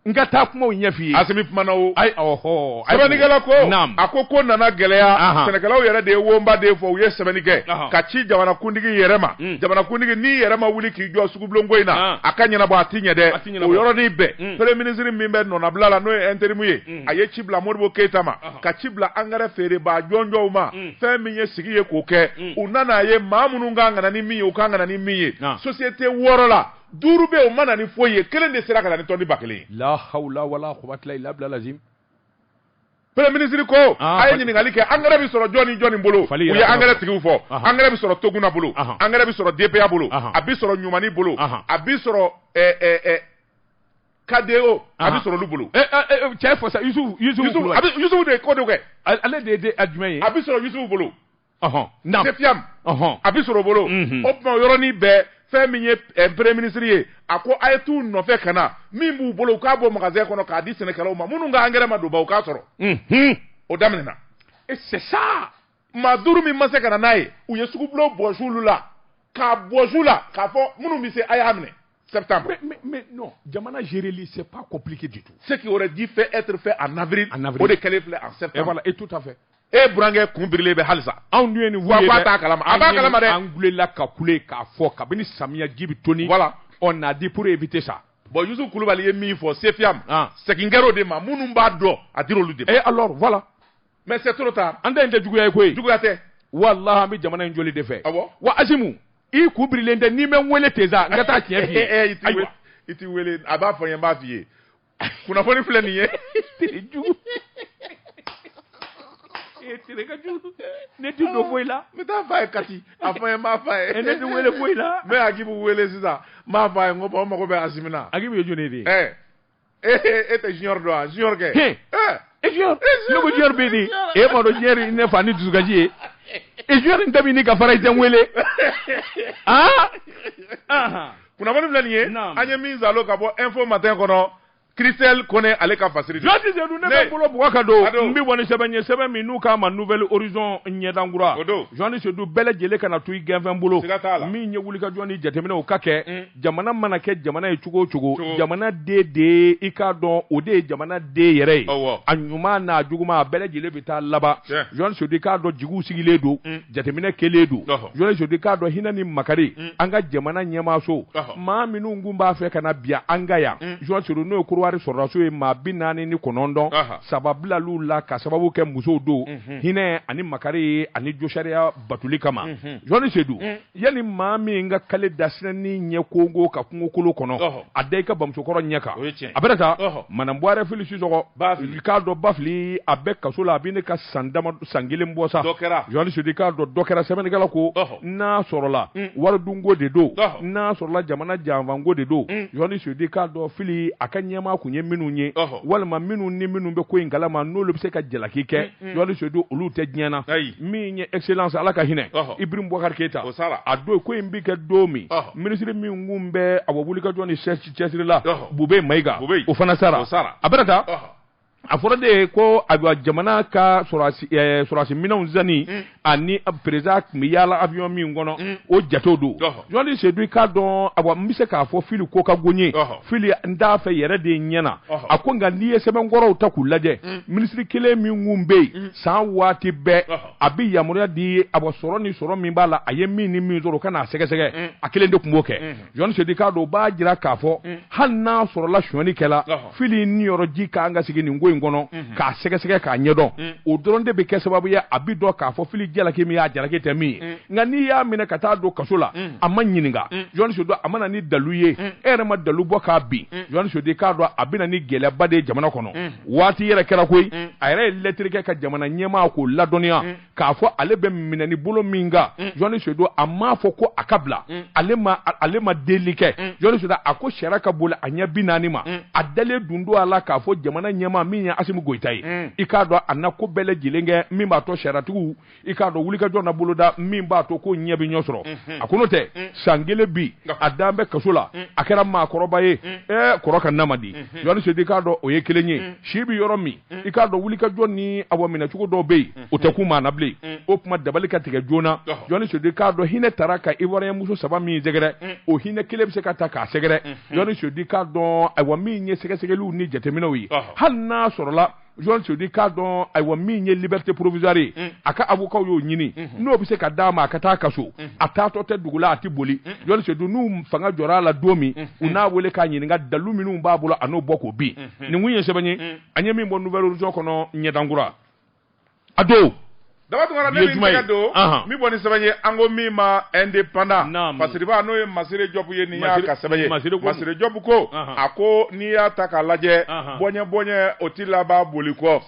n ka taa kumaw ɲɛf'i ye asimi kumana o ayi ɔhɔ sɛbɛnnikɛla ko a ko ko nana gɛlɛya sɛnɛkɛlaw yɛrɛ de ye wonba de fɔ u ye sɛbɛnni kɛ ka ci jamanakuntigi yɛrɛ ma hmm. jamanakuntigi n'i yɛrɛ ma wuli k'i jɔ sugubulonko in na a ka ɲɛnabɔ a ti ɲɛ dɛ o yɔrɔnin bɛɛ hmm. premier minisiri min bɛ nɔnabila la n'o ye interimu ye hmm. a ye ci bila modibo keyita ma ka ci bila angɛrɛ feerebaa jɔnjɔnw ma fɛn min ye sigi ye k'o kɛ u nana a ye maa minnu kan ka na ni min ye u kan ka na ni min ye société wɔɔrɔ la duuru bɛ o ma na ni foyi ye kelen de sera ka na ni tɔni ba kelen ye la hawla wala quwwata illa billah lazim Premier ministre ko ah, a ye ɲininkali kɛ engrais bɛ sɔrɔ jɔni jɔni bolo u ye engrais tigiw fɔ engrais bɛ sɔrɔ Toguna bolo engrais bɛ sɔrɔ DPA bolo a bɛ sɔrɔ Ɲumani bolo a bɛ sɔrɔ eh, eh, eh, KDO a bɛ sɔrɔ olu bolo cɛ fɔ sa Yusufu Yusufu de ko de kɛ ale de ye a jumɛn ye a bɛ sɔrɔ Yusufu bolo Sefiam a bɛ sɔrɔ bolo o tuma yɔrɔnin bɛɛ fɛn min ye Premier ministre ye a ko a ye t'u nɔfɛ ka na min b'u bolo u k'a bɔ magasin kɔnɔ k'a di sɛnɛkɛlaw ma minnu ka engrais ma don ban u k'a sɔrɔ o daminɛna c'est ça maa duuru min ma se ka na n'a ye u ye sugubulon bɔsi olu la k'a bɔsi u la k'a fɔ minnu bɛ se a y'a minɛ septembre. Mais, mais, mais non, jamana géréli, c'est pas compliqué du tout. Ce qui aurait dû faire être fait en avril, en avril. o de kɛlen filɛ en septembre. Et voilà, et tout à fait. e burankɛ kun birilen bɛ halisa anw dun ye nin wa k'a t'a kalama a b'a kalama dɛ an kulela ka kule k'a fɔ kabini samiya ji bɛ toni voilà on a dit pour éviter ça bon Yusu Kulubali ye min fɔ Sefiam ah. segin kɛr'o de ma minnu b'a dɔn a dir'olu de ma et eh, alors voilà mais c'est trop tard an ta in tɛ juguya ye koyi juguya tɛ walahi an bɛ jamana in jɔli de fɛ awɔ ah wa Asimi i kun birilen tɛ n'i bɛ n wele ten sa n ka taa tiɲɛ f'i ye ayiwa i t'i wele a b'a fɔ n ye n b'a f'i ye kunnafoni filɛ nin ye tere jugu e tere ka jugu ne ti don foyi la n bɛ taa f'a ye kati a fɔ n ye n b'a f'a ye ee ne ti wele foyi la n bɛ akibu wele sisan n b'a f'a ye n ko bon n mago bɛ asimi na akibu ye jɔni de ye ɛ e tɛ junior dɔn wa junior kɛ e e junior ne ko junior bɛ di e ma dɔn junior ye ne fa ni dusukasi ye e junior in ka fara i tɛ n wele aa kunnafoni filɛ nin ye an ye min zalo ka bɔ info matin kɔnɔ Christelle Kone ale ka fasiri don. Jɔni Sedu ne bɛ bolo bugɔ ka don. N bɛ bɔ ni sɛbɛn ye sɛbɛn min n'u k'a ma Nouvelle Horizon ɲɛdan kura. O don. Jɔni Sedu bɛɛ lajɛlen kana to i gɛnfɛn bolo. Siga t'a la. Min ye wulikajɔ ni jateminɛw ka kɛ. Mm. Jamana mana kɛ jamana ye cogo o cogo. Cogo. Jamana den de ye i k'a dɔn o de ye jamana den yɛrɛ ye. Awɔ. A ɲuman n'a juguman a bɛɛ lajɛlen bɛ taa laban. Tiɲɛ. Jɔni Sedu i k'a dɔn jigiw sigilen don. Mm. jateminɛ kɛlen don jɔni sedu i k'a dɔn hinɛ ni makari mm. an ka jamana ɲɛmaaso maa minnu kun b'a fɛ ka na biya an ka yan jɔni mm. sedu n'o ye kodiwari sɔrɔdasiw ye maa bi naani ni kɔnɔntɔn saba bilal'u la ka sababu kɛ musow don mm-hmm. hinɛ ani makari ye ani josariya batoli kama jɔni mm-hmm. sedu mm. yanni maa min ka kale dasinɛni ɲɛ kongo ka kungokolo kɔnɔ a da i ka bamusokɔrɔ ɲɛ kan a bɛna taa madamu buware fili sisɔkɔ i k'a dɔn ba fili a bɛ kaso la a bɛ ɲini ka san dama san kelen bɔ sa jɔni sedu i k'a dɔn dɔ kɛra sɛbɛnnikɛla ko n'a sɔrɔla mm. wari dunko de don n'a sɔrɔla jamana janfanko de don mm. jɔni sedu i k'a dɔn fili a ka ɲɛmaa kun ye minnu ye walima minnu ni minnu bɛ ko in kalama n'olu bɛ se ka jalaki kɛ jɔni mm, sedu olu tɛ diɲɛ na min ye excellence ala ka hinɛ ibrahim bubakari keyita a don ko in bɛ kɛ don min minisiri min kun bɛ ayiwa wulikajɔ ni cɛsiri la bubɛyi mayiga o fana sara a bɛna taa a fɔra de ye ko ayiwa jamana ka sɔrɔdasi minɛnw sanni mm. ani perezidan tun bɛ yaala avion min kɔnɔ mm. o jatew don jɔni sedu i k'a dɔn ayiwa n bɛ se k'a fɔ fili ko ka go n ye fili n t'a fɛ yɛrɛ de ɲɛ na a ko nka n'i ye sɛbɛnkɔrɔw ta k'u lajɛ mm. minisiri kelen min kun bɛ yen san waati bɛɛ a bɛ yamaruya di ayiwa sɔrɔ ni sɔrɔ min b'a la a ye min ni min sɔrɔ o ka n'a sɛgɛsɛgɛ a kelen de tun b'o kɛ. jɔni sedu i k'a dɔn o b'a jira k'a fɔ mm. hali n'a sɔrɔla sonyali kɛla fili niyɔrɔ ji k'an ka sigi nin ko in kɔnɔ mm-hmm. k'a sɛgɛsɛgɛ k'a ɲɛdɔn mm. o dɔrɔn de bɛ kɛ sababu ye a bi dɔn k'a fɔ fili jalaki min y'a jalaki tɛ min ye mm. nka n'i y'a minɛ ka taa don kaso la a ma ɲininka jɔni sedu a ma na ni dalu ye e yɛrɛ ma dalu bɔ k'a bin jɔni sedu i k'a dɔn a bɛ na ni gɛlɛyaba de ye jamana kɔnɔ waati yɛrɛ kɛra koyi a yɛrɛ ye lɛtiri kɛ ka jamana ɲɛmaa k'o ladɔnniya k'a fɔ ale bɛ minɛni bolo min kan mm. jɔnni sedu a m'a fɔ ko a ka bila mm. ale ma ale ma deli kɛ mm. jɔnni sedu a ko sariya ka boli a ɲɛ bi naani ma a dalen dun don a la k'a fɔ jamana ɲɛmaa min ye asimi goyita ye i k'a dɔn a na ko bɛɛ lajɛlen kɛ min b'a to sariyatigiw i k'a dɔn wulikajɔ na boloda min b'a to ko ɲɛ bɛ ɲɔ sɔrɔ mm-hmm. a ko n'o tɛ san kelen bi a dan bɛ kaso la a kɛra maakɔrɔba ye ɛɛ kɔrɔ ka nama di mm-hmm. jɔnni sedu i k'a dɔn o ye kelen ye si bɛ yɔrɔ min i k'a dɔn wulikajɔ ni ayiwa minɛcogo dɔw bɛ yen o tɛ kun maa na bilen o tuma dabali ka tigɛ joona jɔni sedu i k'a dɔn hinɛ taara ka ivoirien muso saba min sɛgɛrɛ o hinɛ kelen bɛ se ka taa k'a sɛgɛrɛ jɔni sedu i k'a dɔn ayiwa min ye sɛgɛsɛgɛliw ni jateminɛw ye hali n'a sɔrɔla jɔni sedu i k'a dɔn ayiwa min ye liberté provisoire ye mm. a ka avocat y'o ɲini mm-hmm. n'o bɛ se ka d'a ma a ka taa a ka so mm-hmm. a taatɔ tɛ dugu la a tɛ boli jɔni sedu n'u mago jɔra a la don min mm-hmm. u n'a wele k'a ɲininka dalu minnu b'a bolo a n'o bɔ k'o bin hmm. nin kun ye sɛbɛn ye hmm. an ye min bɔ nouvel horizon kɔnɔ ɲɛdankura a don daba tunkara ne bɛ tɛgɛ don min bɔ ni sɛbɛn ye an ko min ma indépendant masiriba n'o ye masire jɔpu ye nin y'a ka sɛbɛn ye masire jɔpu ko a ko n'i y'a ta k'a lajɛ bɔɲɛ bɔɲɛ o ti laban boli kɔ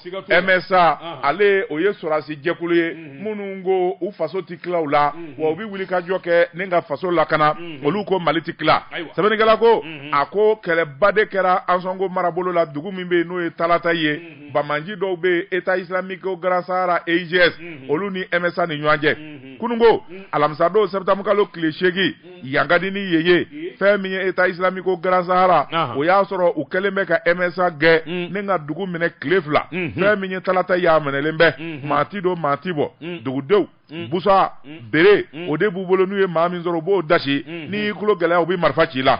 msa ale o ye sɔrasi jɛkulu ye hmm. minnu ko u faso tɛ tila u la wa u bɛ wulikajɔ kɛ ni ka faso lakana olu ko mali tɛ tila sɛbɛnnikɛla ko a ko kɛlɛba de kɛra ansonko marabolo la dugu min bɛ yen n'o ye talata ye bamanji dɔw bɛ yen état islamique au grand sahara EIGS olu ni MSA ni ɲɔgɔn cɛ kununko alamisadon septembre kalo tile seegin yan ka di ni yen ye fɛn min ye état islamique au grand sahara o y'a sɔrɔ u kɛlen bɛ ka msa gɛn mm. ni ka dugu minɛ tile fila mm-hmm. fɛn min ye talata y'a minɛlen bɛ mm-hmm. maa ti don maa ti bɔ mm. dugudenw mm. busa bere o de b'u bolo n'u ye maa min sɔrɔ u b'o dasi mm-hmm. n'i y'i tulo gɛlɛya u bɛ marifa ci i la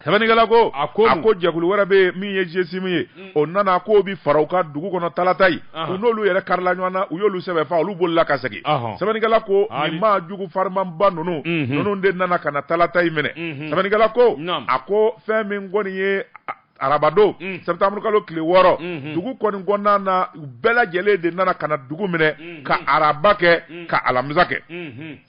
Sɛbɛnnikɛla ko a ko jɛkulu wɛrɛ bɛ yen min ye GSIM ye mm. o nana k'o bɛ fara u kan dugu kɔnɔ talata in u n'olu yɛrɛ karila ɲɔgɔn na u y'olu sɛbɛ faa olu bolila ka segin sɛbɛnnikɛla ko nin maa jugu farimaba ninnu mm-hmm. ninnu de nana ka na talata in minɛ mm-hmm. sɛbɛnnikɛla ko a ko fɛn min kɔni ye arabadon mm. septembre kalo tile wɔɔrɔ mm-hmm. dugu kɔni kɔnɔna na u bɛɛ lajɛlen de nana ka na dugu minɛ ka araba kɛ ka alamisa kɛ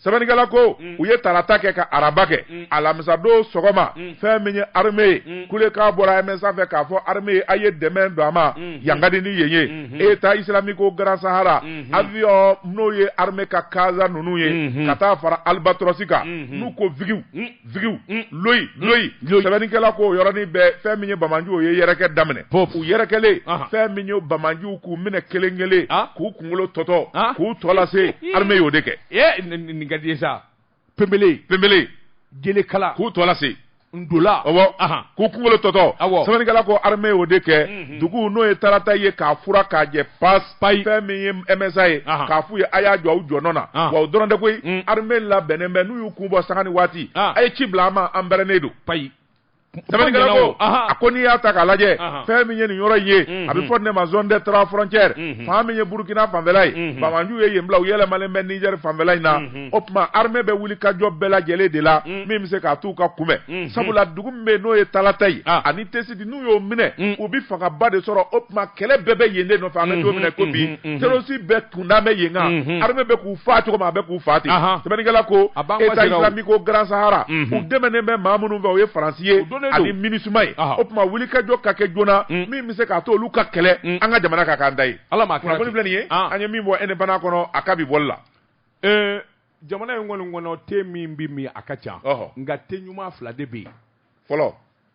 sɛbɛnnikɛla ko mm. u ye tarata kɛ ka araba kɛ mm. alamisadon sɔgɔma mm. fɛn min ye armée ye mm. kulekan bɔra msa fɛ k'a fɔ armée ye a ye dɛmɛ don a ma mm. yan ka di ni yen ye mm-hmm. état islamique au grand sahara mm-hmm. avion n'o ye armée ka kaza ninnu ye mm-hmm. ka taa fara albatros kan n'u ko vigiw vigiw mm. loyi mm. loyi sɛbɛnnikɛla ko yɔrɔnin bɛɛ fɛn min ye bamanjiw ye yɛrɛkɛ daminɛ u yɛrɛkɛlen fɛn min ye bamanjiw k'u minɛ kelen kelen ah. k'u kunkolo tɔtɔ ah. k'u tɔ lase armée y'o de kɛ eh, nin ka di ye sa pembele pembele jelekala k'u tɔ lase ndola ɔwɔ k'u kunkolo tɔtɔ sɛbɛnnikɛla ko armée y'o de kɛ mm-hmm. dugu n'o ye tarata ye k'a furan k'a jɛ pas payi fɛn min ye MSA ye k'a f'u ye a y'a jɔ aw jɔnɔ na wa o dɔrɔn tɛ koyi mm. armée labɛnnen bɛ n'u y'u kun bɔ sanga ni waati a ye ci bila an ma an bɛrɛnnen don payi sɛbɛnnikɛla ko a ko n'i y'a ta k'a lajɛ fɛn min ye nin yɔrɔ in ye mm-hmm. a bɛ fɔ nin ma zone des trois frontières mm-hmm. fan min ye burukina fanfɛla ye mm-hmm. bamanjiw ye yen bila u yɛlɛmalen bɛ nizɛri fanfɛla in na o tuma armée bɛ wulikajɔ bɛɛ lajɛlen de la mm. min bɛ se k'a t'u ka kunbɛn sabula dugu min bɛ yen n'o ye talata ye ah. ani tesi di n'u y'o minɛ mm. u bɛ fangaba de sɔrɔ o tuma kɛlɛ bɛɛ bɛ yen de nɔfɛ an bɛ don min na ko bi terroriste bɛɛ kunda bɛ yen kan armée bɛ k'u faa cogo min a bɛ k'u faa ten sɛbɛnnikɛla ko état islamique au grand sahara u dɛmɛnen bɛ maa minnu fɛ o ye faransi ye ani minusma ye o tuma wulikajɔ ka kɛ joona mm. min bɛ se k'a to olu ka kɛlɛ mm. an ka jamana ka k'an ta ye kunnafoni filɛ nin ye ah. an ye min bɔ indépendant kɔnɔ a ka bi bɔli la eh, jamana in kɔni kɔnɔ te min bɛ min a ka ca nka te ɲuman fila de bɛ yen fɔlɔ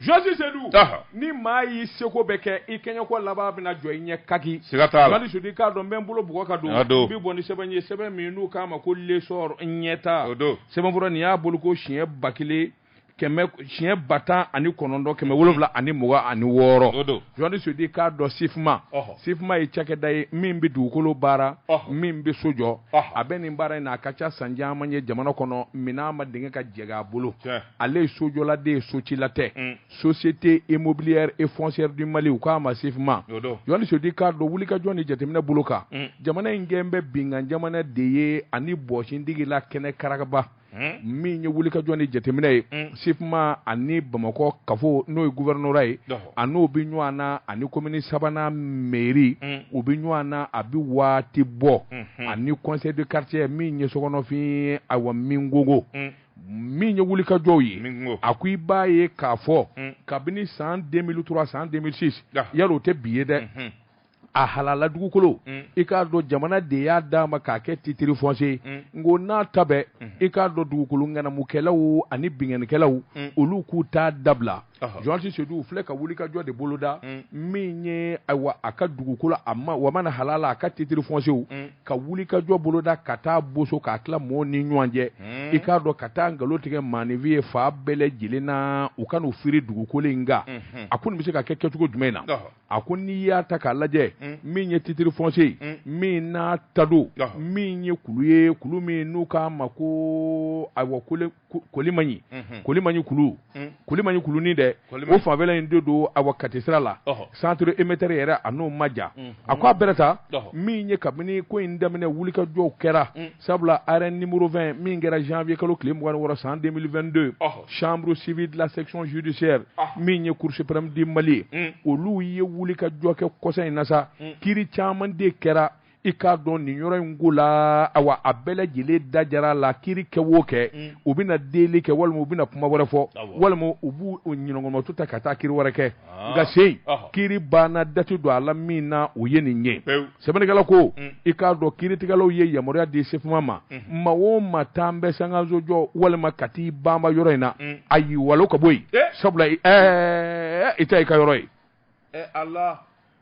Jɔsi sedu ni maa y'i seko bɛɛ kɛ i kɛɲɛko laban bɛna jɔ i ɲɛ kaki sedu k'a dɔn n bɛ bolo bug ka don bi bɔ ni sɛbɛn ye sɛbɛn min n'u k'a ma ko L'Essor ɲɛta sɛbɛnfura nin y'a bolo ko siɲɛ ba kelen siɲɛ ba tan ani kɔnɔntɔn kɛmɛ wolowula ani mugan ani wɔɔrɔ Jɔsi sedu k'a dɔn sifuma sifuma ye cakɛda ye min bɛ dugukolo baara min bɛ so jɔ a bɛ nin baara in na a ka ca san caman ye jamana kɔnɔ minɛn ma denkɛ ka jɛ a bolo ale ye sojɔla de ye socila tɛ mm. société immobilière et foncière du Mali u k'a ma SIFMA Jɔsi Sedu k'a dɔn wulikajɔ ni jateminɛ bolo kan mm. jamana in kɛlen bɛ binkan jamana de ye ani bɔsindigi la kɛnɛkaraba mm. min ye wulikajɔ ni jateminɛ ye SIFMA ani Bamakɔ kafo n'o ye gouvernorat ye a n'o bɛ ɲɔgɔn na ani komini sabanan mairie u bɛ ɲɔgɔn na a bɛ waati bɔ mm-hmm. ani conseil de quartier min ye Sogonafin ye awa min gogo min ye wulikajɔw ye a ko i b'a ye k'a fɔ mm. kabini san 2003 san 2006 yala o tɛ bi ye dɛ mm-hmm. a halala dugukolo mm. i k'a dɔn jamana de y'a d'a ma k'a kɛ titre foncier mm. n ko n'a ta bɛɛ i k'a dɔn dugukolo ŋanamukɛlaw ani binkannikɛlaw olu k'u t'a dabila jɔsi sedu filɛ ka wulikajɔ de boloda mm. min ye ayiwa a ka dugukolo wa mana halala a ka titre foncierw mm. ka wulikajɔ boloda ka taa boso k'a tila mɔɔw ni ɲɔgɔn cɛ mm. i k'a dɔn ka taa nkalon tigɛ maaninfin ye fan bɛɛ lajɛlen na u ka n'u firi dugukolo in kan mm-hmm. a ko nin bɛ se ka kɛ kɛcogo jumɛn na a ko n'i y'a ta k'a lajɛ min ye titre foncier min n'a ta don min ye kulu ye kulu min n'u k'a ma ko ayiwa ko kolimaɲi kolimaɲi kulu kolimaɲi kulunin dɛ o fanfɛla in de don awa Kati sira la centre émetteur yɛrɛ a n'o ma jan a ko a bɛrɛ ta min ye kabini ko in daminɛ wulikajɔw kɛra sabula arrêt numéro 20 min kɛra janvier kalo tile mugan ni wɔɔrɔ san 2022 chambre civile de la section judiciaire min ye cour suprême du Mali ye olu ye wulikajɔ kɛ kɔsa in na sa kiri caman de kɛra i k'a dɔn nin yɔrɔ in ko la awa a bɛɛ lajɛlen da jara a la kiri kɛ o kɛ mm. u bɛna deli kɛ walima u bɛna kuma wɛrɛ fɔ walima u b'u ɲɔgɔnmatu ta ka taa kiri wɛrɛ kɛ ah. nka se kiri banna dati don a la min na o ye nin ye sɛbɛnnikɛla ko mm. i k'a dɔn kiritigɛlaw ye yamaruya di sifuma ma mm. maa o maa taalen bɛ sankanso jɔ walima ka t'i banba yɔrɔ in na a y'i walo ka bɔ yen eh. sabula yen tɛ i ka yɔrɔ ye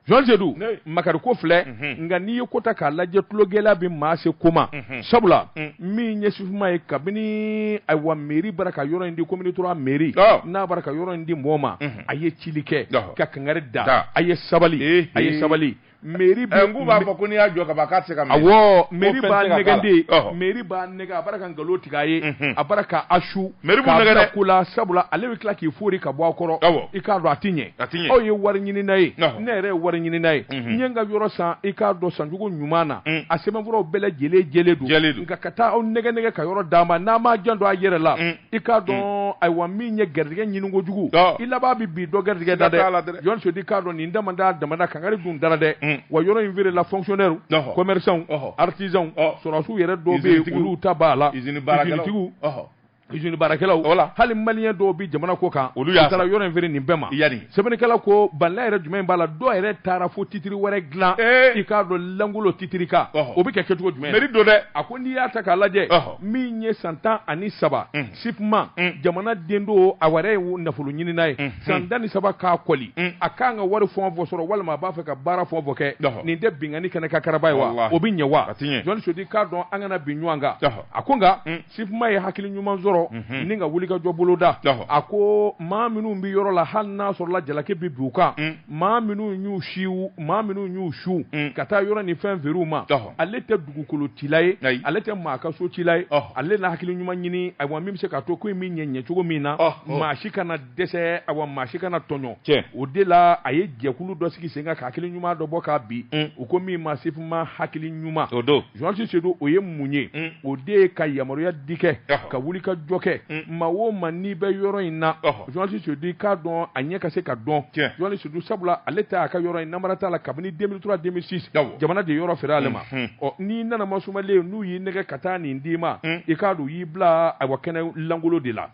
jɔsi sedu makari ko filɛ nka n'i ye ko ta k'a lajɛ tulogɛlɛya bɛ maa se ko ma sabula min ye sifuma ye kabini ayiwa mairie b'a la ka yɔrɔ in di commune trois mairie n'a b'a la ka yɔrɔ in di mɔgɔ ma a ye cili kɛ ka kangari da a ye sabali a ye sabali meri bɛ n k'u b'a fɔ ko n'i y'a jɔ ka ban k'a tɛ se ka mɛn awɔ meri b'a nɛgɛn de meri b'a nɛgɛn a bara ka nkalon tigɛ a ye a bara ka asu meri b'u nɛgɛn dɛ ko la sabula ale bɛ tila k'i fori ka bɔ a kɔrɔ awɔ i k'a dɔn a tɛ ɲɛ a tɛ ɲɛ aw ye wari ɲinina ye ne yɛrɛ ye wari ɲinina ye n ye n ka yɔrɔ san i k'a dɔn sancogo ɲuman na a sɛbɛnfuraw bɛɛ lajɛlen jɛlen don jɛlen don nka ka taa aw nɛgɛn nɛgɛn ka yɔrɔ d'a ma n'a m'a janto a yɛrɛ la i k'a dɔn hmm. ayiwa min ye garijɛgɛ ɲini kojugu i laban bɛ bin dɔ garijɛgɛ da dɛ journaliste Seydou i k'a dɔn nin dama da damada kangari dun dara dɛ hmm. wa yɔrɔ in feerela fonctionnaire commerçants artisans sɔrɔdasiw yɛrɛ dɔw bɛ yen olu ta b'a la usine baarakɛlaw usine baarakɛlaw voilà hali maliyɛn dɔw bɛ jamana kɔkan olu taara yɔrɔ in feere nin bɛɛ ma yani sɛbɛnnikɛla ko bala yɛrɛ jumɛn b'a la dɔw yɛrɛ taara fo titiri wɛrɛ dilan i k'a dɔn langolo titiri kan o bɛ kɛ kɛcogo jumɛn mɛri don dɛ a ko n'i y'a ta k'a lajɛ min ye san tan ani saba SIFMA jamanaden don a wɛrɛ ye nafolo ɲinina ye san tan ni saba k'a kɔli a k'an ka wari fɔ fɔ sɔrɔ walima a b'a fɛ ka baara fɔ fɔ kɛ nin tɛ binkanni kɛnɛ kan karaba ye wa o bɛ ɲɛ wa journaliste Seydou i k'a dɔn an kana bin ɲɔgɔn kan a ko nka SIFMA ye hakili ɲuman sɔrɔ ni an ka wuli ka jɔ boloda a ko maa minnu bɛ yɔrɔ la hali n'a sɔrɔla jalaki bɛ bin u kan maa minnu y'u si maa minnu y'u su ka taa yɔrɔ ni fɛn feere u ma ale dugukolo cila ye ale tɛ maa ka so cila ye ale na hakili ɲuman ɲini awa min bɛ se k'a to ko in bɛ ɲɛ ɲɛ cogo min na maa si kana dɛsɛ awa maa si kana tɔɲɔ o de la a ye jɛkulu dɔ sigi sen kan ka hakili ɲuman dɔ bɔ k'a bi mm. u ko min ma SIFMA hakili ɲuman o don journaliste Seydou o ye mun ye mm. o de ye ka yamaruya di kɛ ka wuli ka jɔ kɛ mm. maa o maa n'i bɛ yɔrɔ in na journaliste Seydou i k'a dɔn a ɲɛ ka se k'a dɔn journaliste Seydou sabula ale ta a ka yɔrɔ in namara t'a la kabini 2003 2006 jamana de yɔrɔ feere ale ma ɔ n'i nana masumalen n'u y'i nɛgɛ ka taa nin d'i ma i k'a dɔn u y'i bila ayiwa kɛnɛ langolo de la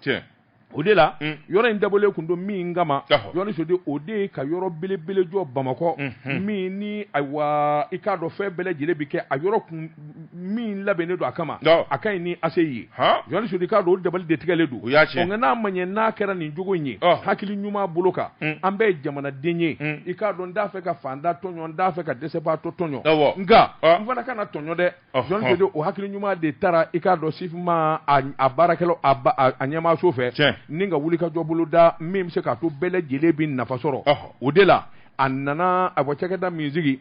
o de la yɔrɔ in dabɔlen tun don min kama journaliste Seydou o de ye ka yɔrɔ belebele jɔ Bamakɔ min ni ayiwa i k'a dɔn fɛn bɛɛ lajɛlen bɛ kɛ a yɔrɔ kun min labɛnnen don a kama a ka ɲi ni ACI ye journaliste Seydou i k'a dɔn o dabali de tigɛlen don y'a cɛ nka n'a ma ɲɛ n'a kɛra nin cogo in ye hakili ɲuman bolo kan mm. an bɛɛ ye jamanaden ye mm. i k'a dɔn n t'a fɛ ka fanda tɔɲɔ n t'a fɛ ka dɛsɛbaatɔ tɔɲɔ nka n fana kana tɔɲɔ dɛ journaliste Seydou o hakili ɲuman de taara i k'a dɔn SIFMA a baarakɛlaw a ɲɛmaaso fɛ ni an ka wuli ka jɔ bolo da min bɛ se k'a to bɛɛ lajɛlen bɛ nafa sɔrɔ o de la a nana a bɔ cakɛda min sigi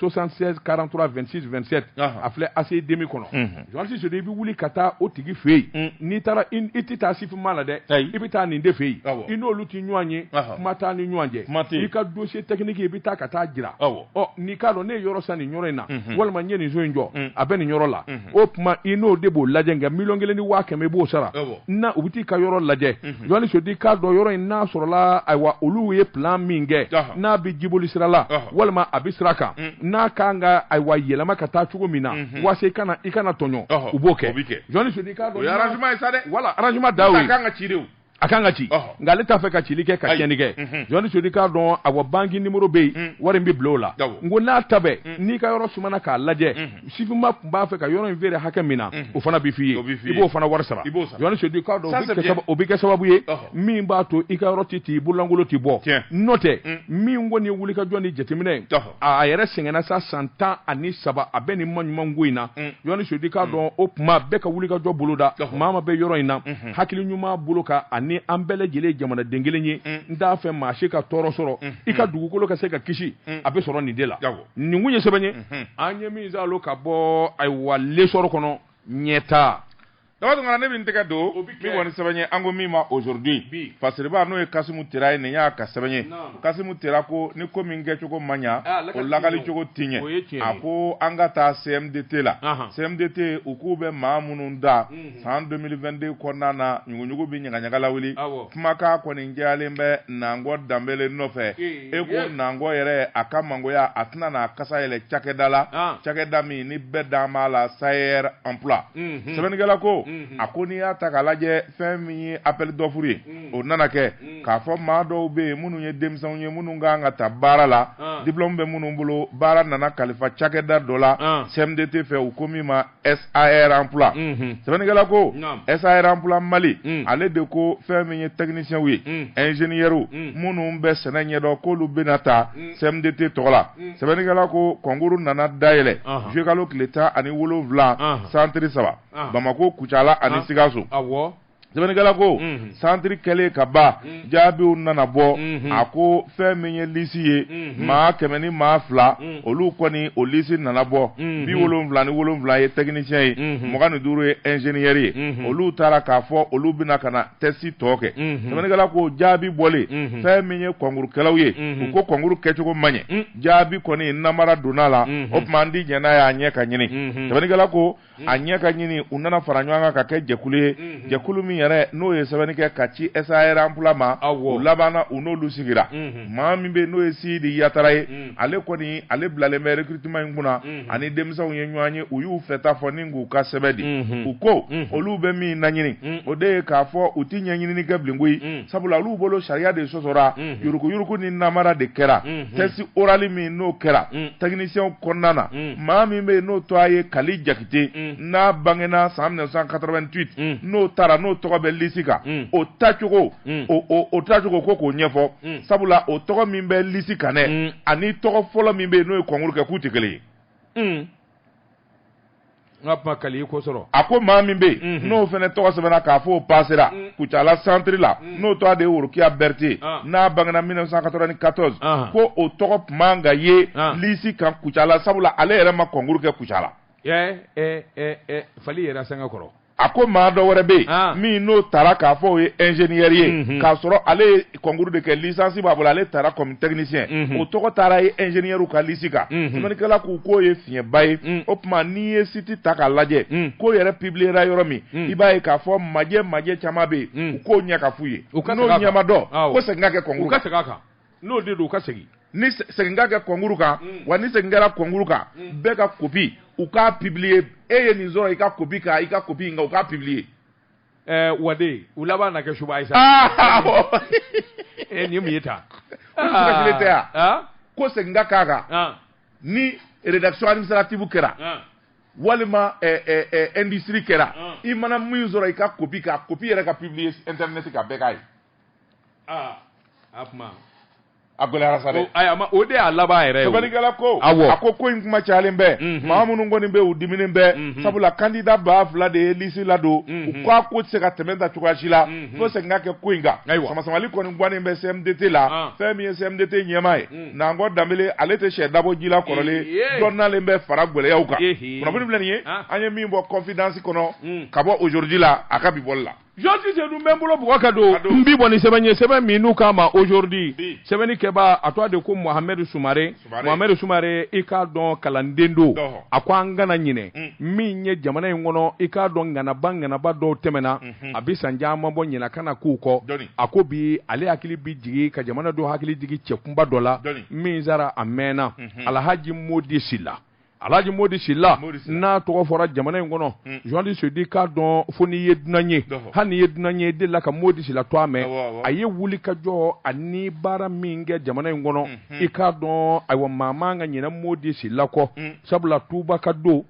76 43 26 27 a filɛ ACI 2000 kɔnɔ journaliste Seydou i bɛ wuli ka taa o tigi fɛ yen mm. n'i taara i tɛ taa SIFMA la dɛ i bɛ taa nin de fɛ yen i n'olu tɛ ɲɔgɔn ye kuma t'aw ni ɲɔgɔn cɛ i ka dossier technique i bɛ taa ka t'a jira ɔ n'i k'a dɔn ne ye yɔrɔ san nin yɔrɔ in na mhm. walima n ye nin so in jɔ mm. a bɛ nin yɔrɔ la mhm. o tuma i n'o de b'o lajɛ nka miliyɔn kelen ni waa kɛmɛ i b'o sara na u bɛ t'i ka yɔrɔ lajɛ mhm. jɔnni Seyidu k'a dɔn yɔrɔ in n'a sɔrɔla ayiwa olu ye plan min kɛ n'a bɛ jiboli sira la walima a bɛ sira kan mm. n'a kan ka ayiwa yɛlɛma ka taa cogo min na mm-hmm. waasa i kana i kana tɔɲɔ u b'o kɛ jɔnni Seyidu k'a dɔn o ye arrangement ye sa dɛ wala arrangement da o ye a kan ka ci de o a kan ka ci nka ale t'a fɛ ka cili kɛ ka tiɲɛni kɛ mhm. jɔnni Seyidu k'a dɔn awa banki nimoro bɛ yen mm. wari in bɛ bila o la n ko n'a ta bɛɛ mm. n'i ka yɔrɔ sumana k'a lajɛ mm. SIFMA tun b'a fɛ ka yɔrɔ in feere hakɛ min na o fana bɛ f'i ye i b'o fana wari sara jɔnni Seyidu k'a dɔn o bɛ kɛ sababu ye min b'a to i ka yɔrɔ tɛ ten i bololankolon tɛ bɔ n'o tɛ min kɔni ye wulikajɔ ni jateminɛ ye a yɛrɛ sɛgɛnna sa san tan ani saba a bɛ nin ma ɲuman ko in na jɔnni Seyidu k'a dɔn o tuma bɛɛ ka wulikajɔ bolo da maa ma bɛ yɔrɔ in na hakili ɲuman bolo kan ani an bɛɛ lajɛlen jamanaden kelen ye n t'a fɛ maa si ka tɔɔrɔ sɔrɔ i ka dugukolo ka se ka kisi a bɛ sɔrɔ nin de la nin kun ye sɛbɛn ye an ye min saalo ka bɔ ayiwa L'Essor kɔnɔ ɲɛtaa Daba Tunkara ne bɛ n tɛgɛ don min kɔni sɛbɛn ye an ko min ma Aujourd'hui fasiriba n'o ye Kasimu Tera ye nin y'a ka sɛbɛn ye Kasimu Tera ko ni ko min kɛcogo ma ɲɛ o lakalicogo ti ɲɛ a ko an ka taa CMDT la CMDT u k'u bɛ maa minnu ta san 2022 kɔnɔna na ɲuguɲugu bɛ ɲagaɲaga lawuli kumakan kɔni jɛyalen bɛ Nangɔ Danbele nɔfɛ i ko Nangɔ yɛrɛ a ka mangoya a tɛna n'a kasa yɛlɛ cakɛda la cakɛda min ni bɛɛ dan b'a la SAER emploi sɛbɛnnikɛla ko a ko n'i y'a ta k'a lajɛ fɛn min ye appel d'offre ye o nana kɛ k'a fɔ maa dɔw bɛ yen minnu ye denmisɛnw ye minnu ka kan ka ta baara la diplôme bɛ minnu bolo baara nana kalifa cakɛda dɔ la CMDT fɛ u ko min ma SAER emploi unhun sɛbɛnnikɛla ko naam SAER emploi Mali un ale de ko fɛn min ye technicienw ye un ingénieurw un minnu bɛ sɛnɛ ɲɛdɔn k'olu bɛna ta un CMDT tɔgɔ la un sɛbɛnnikɛla ko concours nana dayɛlɛ ɔnhɔn juillet kalo tile 17 anhan centre 3 ɔnhɔn Bamako Kucala ani Sikaso awɔ sɛbɛnnikɛla ko mhm. santiri kɛlen ka ban mhm. jaabiw nana bɔ mhm. a ko fɛn min ye lisi ye maa kɛmɛ ni maa fila olu kɔni o lisi nana bɔ bi wolonwula ni wolonwula ye tɛkinisiyɛn ye mugan ni duuru ye ɛnzeniyɛri ye olu tara k'a fɔ olu bɛna ka na tɛsi tɔ kɛ sɛbɛnnikɛla ko jaabi bɔlen fɛn min ye kɔnkurukɛlaw ye u ko kɔnkuru kɛcogo ma ɲɛ jaabi kɔni namara donna la o tuma an ti jɛn n'a y'a ɲɛ ka ɲini sɛbɛnnikɛla ko a ɲɛ ka ɲini u nana fara ɲɔgɔn kan ka kɛ jɛkulu ye jɛkulu min yɛrɛ n'o ye sɛbɛnni kɛ ka ci SAER emploi ma u labanna u n'olu sigira maa min bɛ n'o ye Sidi Yatara ye ale kɔni ale bilalen bɛ recrutement in kunna ani denmisɛnw ye ɲɔgɔn ye u y'u fɛta fɔ ni k'u ka sɛbɛn di u ko olu bɛ min laɲini o de ye k'a fɔ u tɛ ɲɛɲinini kɛ bilen koyi sabula olu bolo sariya de sɔsɔra yuruguyurugu ni namara de kɛra test oral min n'o kɛra techniciens kɔnɔna na. maa min bɛ yen n'o tɔgɔ ye kali jakite mm. n'a bangena san 1988 mm. n'o taara n'o tɔgɔ bɛ lisi kan mm. o tacogo o tacogo ko k'o ɲɛfɔ sabula o tɔgɔ min bɛ lisi kan dɛ ani tɔgɔ fɔlɔ min bɛ yen n'o ye kɔnkuru kɛ k'u tɛ kelen ye n ka kali kosɔrɔ a ko maa min bɛ yen mm-hmm. n'o fana tɔgɔ sɛbɛnna k'a fɔ o pasera kucala santiri la n'o tɔgɔ de ye worokiya berete ah. n'a bangena 1994 ah. ko o tɔgɔ tun man ka ye ah. lisi kan kucala sabula ale yɛrɛ ma kɔnkuru kɛ kucala eh, eh, eh, f'ale yɛrɛ sange kɔrɔ a ko maa dɔ wɛrɛ bɛ yen ah. min n'o taara k'a fɔ o ye ingénieur ye mhm. k'a sɔrɔ ale ye concours de kɛ licence b'a bolo ale taara comme technicien mhm. o tɔgɔ taara ye ingénieurw ka lisi kan mhm. sɛbɛnnikɛla k'u k'o ye fiɲɛba ye mm. o tuma n'i ye siti ta k'a lajɛ mm. ko yɛrɛ pibiliyera yɔrɔ min mm. i b'a ye k'a fɔ majɛ majɛ caman bɛ yen u k'o ɲɛ ka f'u ye n'o ɲɛ ma dɔn ko segin ka kɛ kɔnkuru kan n'o de don u ka segin ni segin ka kɛ kɔnkuru kan wa ni segin kɛra kɔnkuru kan bɛɛ ka kopi u k'a pibiliye e ye nin sɔrɔ i ka kopi kan i ka kopi nka u k'a pibiliye ɛɛ eh, wade u laban na kɛ suba ye sa e nin mun ye ta ko segin ka k'a kan ni rédaction administrative kɛra ah. walima eh, eh, eh, industrie kɛra ah. i mana min sɔrɔ i ka kopi kan kopi yɛrɛ ka publier internet kan bɛɛ k'a ye ah, a kuma a gɛlɛyara sa dɛ ayi a ma o de y'a laban yɛrɛ ye sɛbɛnnikɛla ko awɔ a ko ko in kuma cayalen bɛ mhm. maa minnu kɔni bɛ u diminen bɛ mhm. sabula kandida ba fila de ye lisi ladon mhm. u k'a ko tɛ se ka tɛmɛ tan cogoya si la fo segin ka kɛ ko in kan samasamali kɔni guwannen bɛ cmdt la ah. fɛn min ye cmdt ɲɛmaa ye nankɔ danbele ale tɛ sɛ dabɔ ji la kɔrɔlen dɔ nalen bɛ fara gɛlɛyaw kan kunnafoni filɛ nin ye ah. an ye min bɔ kɔnfidansi kɔnɔ hmm. ka bɔ ozodi la a ka bi bɔli la jɔsi sedu n bɛ n bolo bugɔ ka don n bi bɔ ni sɛbɛn ye sɛbɛn min n'u k'a ma ozodi sɛbɛnnikɛbaa tɔgɔ de ko mohamɛdu sumare mohamɛdu sumare i k'a dɔn kalanden don a ko an kana ɲinɛ hmm. min ye jamana in kɔnɔ i k'a dɔn ŋanaba ŋanaba dɔw tɛmɛna hmm. a bɛ san caman bɔ ɲina kana k'u kɔ a ko bi ale hakili bɛ jigin ka jamanadenw hakili jigin cɛ kunba dɔ la min sara a mɛnna alahji mɔdi sila alahji mɔdi sila n'a tɔgɔ fɔra jamana in kɔnɔ jɔndi sedu i k'a dɔn fo n'i ye dunan ye hali n'i ye dunan ye i delila ka mɔdi sila tɔgɔ mɛn a ye wulikajɔ ani baara min kɛ jamana in kɔnɔ i k'a dɔn ayiwa maa man ka ɲina mɔdi sila kɔ sabula tubaka don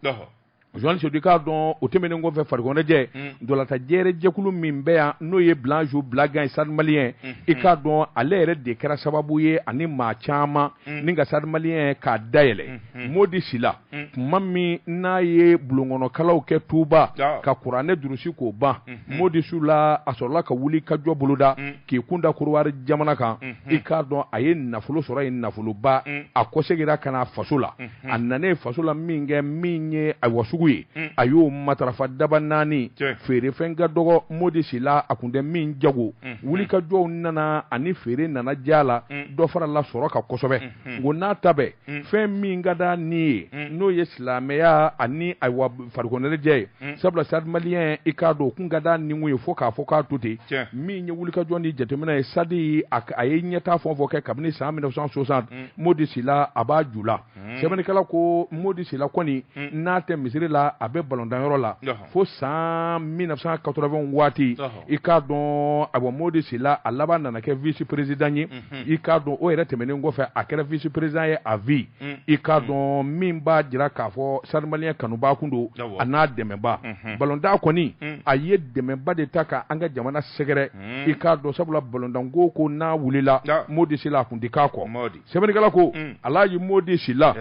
Joan Sedu i k'a dɔn o tɛmɛnen kɔfɛ farikoloɲɛnajɛ ntolatan jɛɛrɛ jɛkulu min bɛ yan n'o ye Blanjo Blagan ye Stade Malien i k'a dɔn ale yɛrɛ de kɛra sababu ye ani maa caman ni ka Stade Malien k'a dayɛlɛ Modi Sila tuma min n'a ye bulonkɔnɔkalan kɛ Tuba ka kuranɛ durusi k'o ban Modi Sila a sɔrɔla ka wulikajɔ boloda k'i kun da Kodiwari jamana kan i k'a dɔn a ye nafolo sɔrɔ yen nafoloba a kɔsegira ka na faso la a nanen faso la min kɛ min ye ayiwa sugu ye a y'o matarafa dabanani feerefɛn ka dɔgɔ modi sila a kun tɛ min jago wulikajɔw nana ani feere nana diya la dɔ farala sɔrɔ kan kosɛbɛ o n'a ta bɛɛ fɛn min ka d'a ni ye n'o ye silamɛya ani ayiwa farikoloɲɛnajɛ ye sabula stade malien i k'a dɔn o kun ka d'a ni ye fo k'a fɔ k'a to ten min ye wulikajɔ ni jateminɛ ye stade a ye ɲɛtaa fɛn o fɛn kɛ kabini san 1960 modi sila a b'a ju la hmm. sɛbɛnnikɛla ko modi sila kɔni hmm. n'a tɛ misiri la a bɛ balontanyɔrɔ la fo san 1980 waati i k'a dɔn awa modi sila a laban nana kɛ vice président ye i k'a dɔn o yɛrɛ tɛmɛnen kɔfɛ a kɛra vice président ye à vie i k'a dɔn min b'a jira k'a fɔ stade malien kanubaa kun don an'a dɛmɛbaa balontan kɔni a ye dɛmɛba de ta ka an ka jamana sɛgɛrɛ i k'a dɔn sabula balontanko ko n'a wulila modi sila a kun tɛ k'a kɔ sɛbɛnnikɛla ko alaji modi sila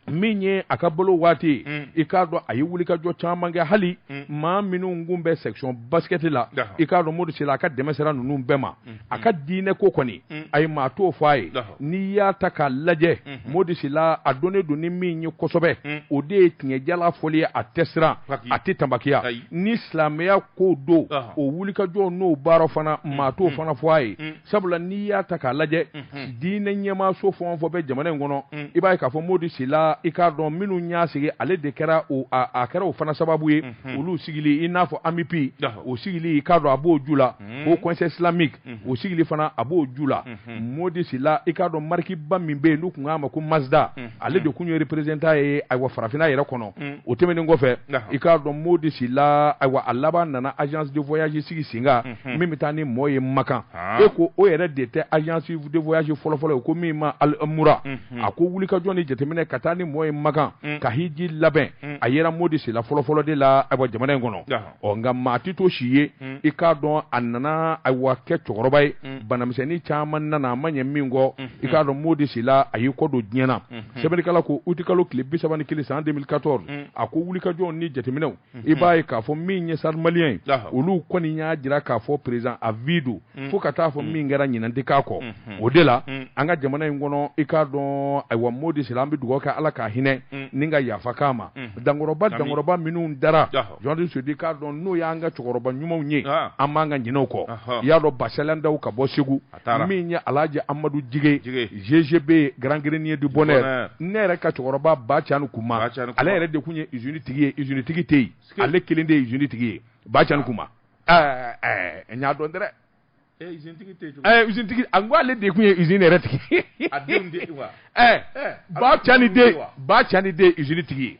min ye a ka balo waati i k'a dɔn a ye wulikajɔ caman kɛ hali maa minnu kun bɛ section basket la i k'a dɔn modi sila a ka dɛmɛ sera ninnu bɛɛ ma a ka diinɛ ko kɔni a ye maa t'o fɔ a ye n'i y'a ta k'a lajɛ modi sila a dɔnnen don ni min ye kosɛbɛ o de ye tiɲɛ jalan fɔli ye a tɛ siran a tɛ tabakiya ni silamɛya ko don o wulikajɔ n'o baara fana mm, maa t'o mm. fana fɔ a ye mm. sabula n'i y'a ta k'a lajɛ mm-hmm. diinɛ ɲɛmaaso fɛn o fɛn bɛ jamana in kɔnɔ i b'a ye k'a fɔ modi sila i k'a dɔn minnu y'a sigi ale de kɛra o a kɛra o fana sababu ye mm-hmm. olu sigili i n'a fɔ amupi o sigili i k'a dɔn a b'o ju la haut conseil islamique o sigili fana a b'o ju la modi sila i k'a dɔn marikiba min bɛ yen n'u tun k'a ma ko mazda ale de kun ye représentant ye ayiwa farafinna yɛrɛ kɔnɔ o tɛmɛnen kɔfɛ i k'a dɔn modi sila ayiwa a laban nana agence de voyage sigi sen kan min bɛ taa ni mɔɔ ye makan e ko o yɛrɛ de tɛ agence de voyage fɔlɔfɔlɔ ye ko min ma al omra a ko wulikajɔ ni jateminɛ ka taa ni mɔɔ ye makan ka hiji labɛn a yera modi sila fɔlɔfɔlɔ de la ayiwa jamana in kɔnɔ ɔ nka maa tɛ to si ye hmm. i k'a dɔn a nana ayiwa kɛ cɛkɔrɔba ye hmm. banamisɛnnin caman nana a ma ɲɛ min kɔ hmm. i k'a dɔn modi sila a y'i kɔ don diɲɛ na sɛbɛnnikɛla ko utikalo tile bi saba ni kelen san 2014 a ko wulikajɔw ni jateminɛw i b'a ye k'a fɔ min ye stade malien ye olu kɔni y'a jira k'a fɔ président à vie don fo ka taa fɔ min kɛra ɲinan tɛ k'a kɔ o de la an ka jamana in kɔnɔ i k'a dɔn ayiwa modi sila an bɛ dugawu kɛ ala k'a hinɛ ni ka yafa k'a ma dankɔrɔba dankɔrɔba minnu dara jɔndi sudi k'a dɔn n'o y'an ka cɛkɔrɔba ɲumanw ye an man kan ka ɲinɛ u kɔ i y'a dɔn basalan daw ka bɔ segu min ye alaji amadu jige GGB Grand Grenier du Bonheur ne yɛrɛ ka cɛkɔrɔba bacani kuma ale yɛrɛ de tun ye usine tigi ye usine tigi tɛ yen ale kelen de ye usine tigi ye bacani kuma n y'a dɔn dɛrɛ a ko ale de tun ye usine yɛrɛ tigi bacani bacani de usine tigi ye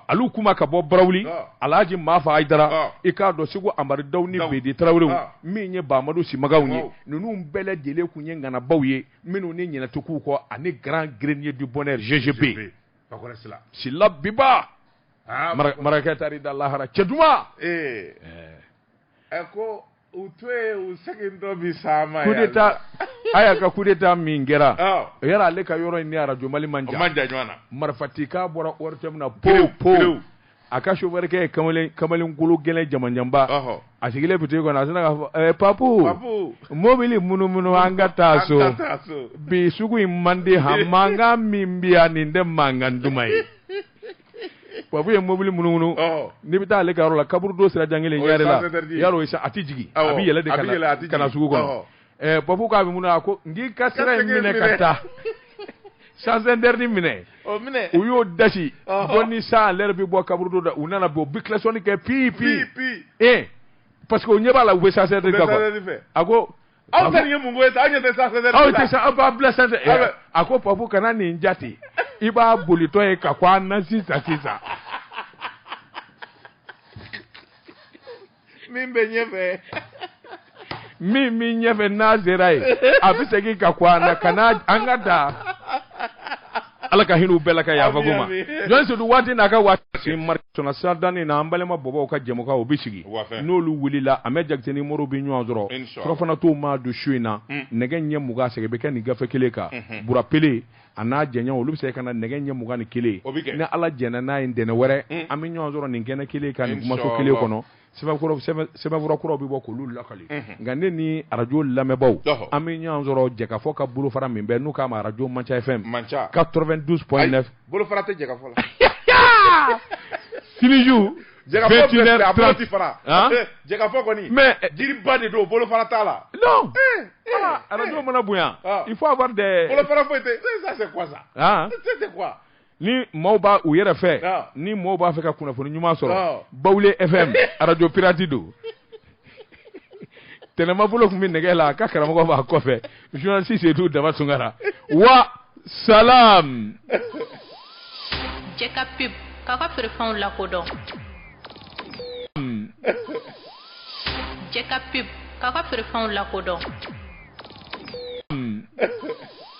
alu kuma ka bɔ barawuli alaji mafa ayidara i k'a dɔn segu amadu daw ni bɛdi tarawelew min ye bamadu simagaw ye ninnu bɛɛ lajɛlen tun ye ŋanabaw ye minnu ni ɲinɛ tɛ k'u kɔ ani Grand Grenier du Bonheur GGB sila biba marakakɛ taar'i da lahara cɛ duman ɛ ko u to ye u segintɔ bi sa ma coup d'état haya ka coup d'état min kɛra yala ale ka yɔrɔ in ni arajo mali man jan man jan ɲɔgɔn na marifatikan bɔra ORTM na pow pow a ka chauffeur kɛ ye kamalen kamalen kologɛlɛn jamanjanba a sigilen boutique kɔnɔ a sina k'a fɔ ɛɛ papu mobili munumunu an ka taa so bi sugu in man di han mankan min bi yan nin tɛ mankan duman ye papu ye mobili munumunu n'i bɛ taa ale ka yɔrɔ la kaburudo sira jan kelen ɲarela yan rɔ a tɛ jigin a bɛ yɛlɛ de kana sugu kɔnɔ ɛɛ papu k'a bɛ mun a ko n k'i ka sira in minɛ ka taa sens interdit minɛ u y'u da sin bɔ ni cent à l'heure bɛ bɔ kaburudo da u nana bɔ u bi kilasɔnni kɛ pi pi ee parce que u ɲɛ b'a la u bɛ sens interdit kan a ko aw tɛ nin ye mun ko ye sa aw ɲɛ tɛ sens interdit aw tɛ sa aw b'a bila sens interdit Aw bɛ- a ko papu kana nin jate i b'a bolitɔ ye ka ko a na sisan sisan min bɛ ɲɛfɛ min min ɲɛfɛ n'a sera yen a bɛ segin ka ko a na ka na an ka da ala ka hin'u bɛɛ la ka yafa k'u ma jɔn sedu waati n'a ka waati marina sira dannen na an balima bɔbɔw ka jɛmukan o bɛ sigi n'olu wulila amɛdi jakite ni moriw bɛ ɲɔgɔn sɔrɔ surafana t'o maa don su in na mm. nɛgɛ ɲɛ mugan sɛgɛn bɛ kɛ nin gafe kelen kan mm-hmm. burapele a n'a jɛɲɔgɔn olu bɛ se ka na nɛgɛ ɲɛ mugan ni kelen ni ala jɛnna n'a ye ntɛnɛn wɛrɛ mm. an bɛ ɲɔgɔn sɔrɔ nin kɛnɛ kelen kan nin kumaso kelen kɔnɔ sɛbɛnfura kuraw bɛ bɔ k'olu lakali nka ne ni arajo lamɛnbaaw an bɛ ɲɔgɔn sɔrɔ jɛkafɔ ka bolofara min bɛ n'u k'a ma arajo manca fm manca 92 point 9 bolofara tɛ jɛkafɔ la siniju jɛkafɔ filɛ filɛ a bolo ti fara Han? Eh, jɛkafɔ kɔni Mais, eh, jiriba de don bolofara t'a la non ah, arajo mana bonya Ah. il faut avoir des bolofara foyi tɛ ça c'est quoi ça Ah. c'est c'est quoi ni maaw b'a u yɛrɛ fɛ ni maaw b'a fɛ ka kunnafoni ɲuman sɔrɔ bawule fm arajo pirati don tɛnɛma bolo tun bɛ nɛgɛ la ka karamɔgɔ b'a kɔfɛ journaliste seyidu daba tunkara wa salam jɛ ka pub k'a ka feerefɛnw lakodɔn jɛ ka pub k'a ka feerefɛnw lakodɔn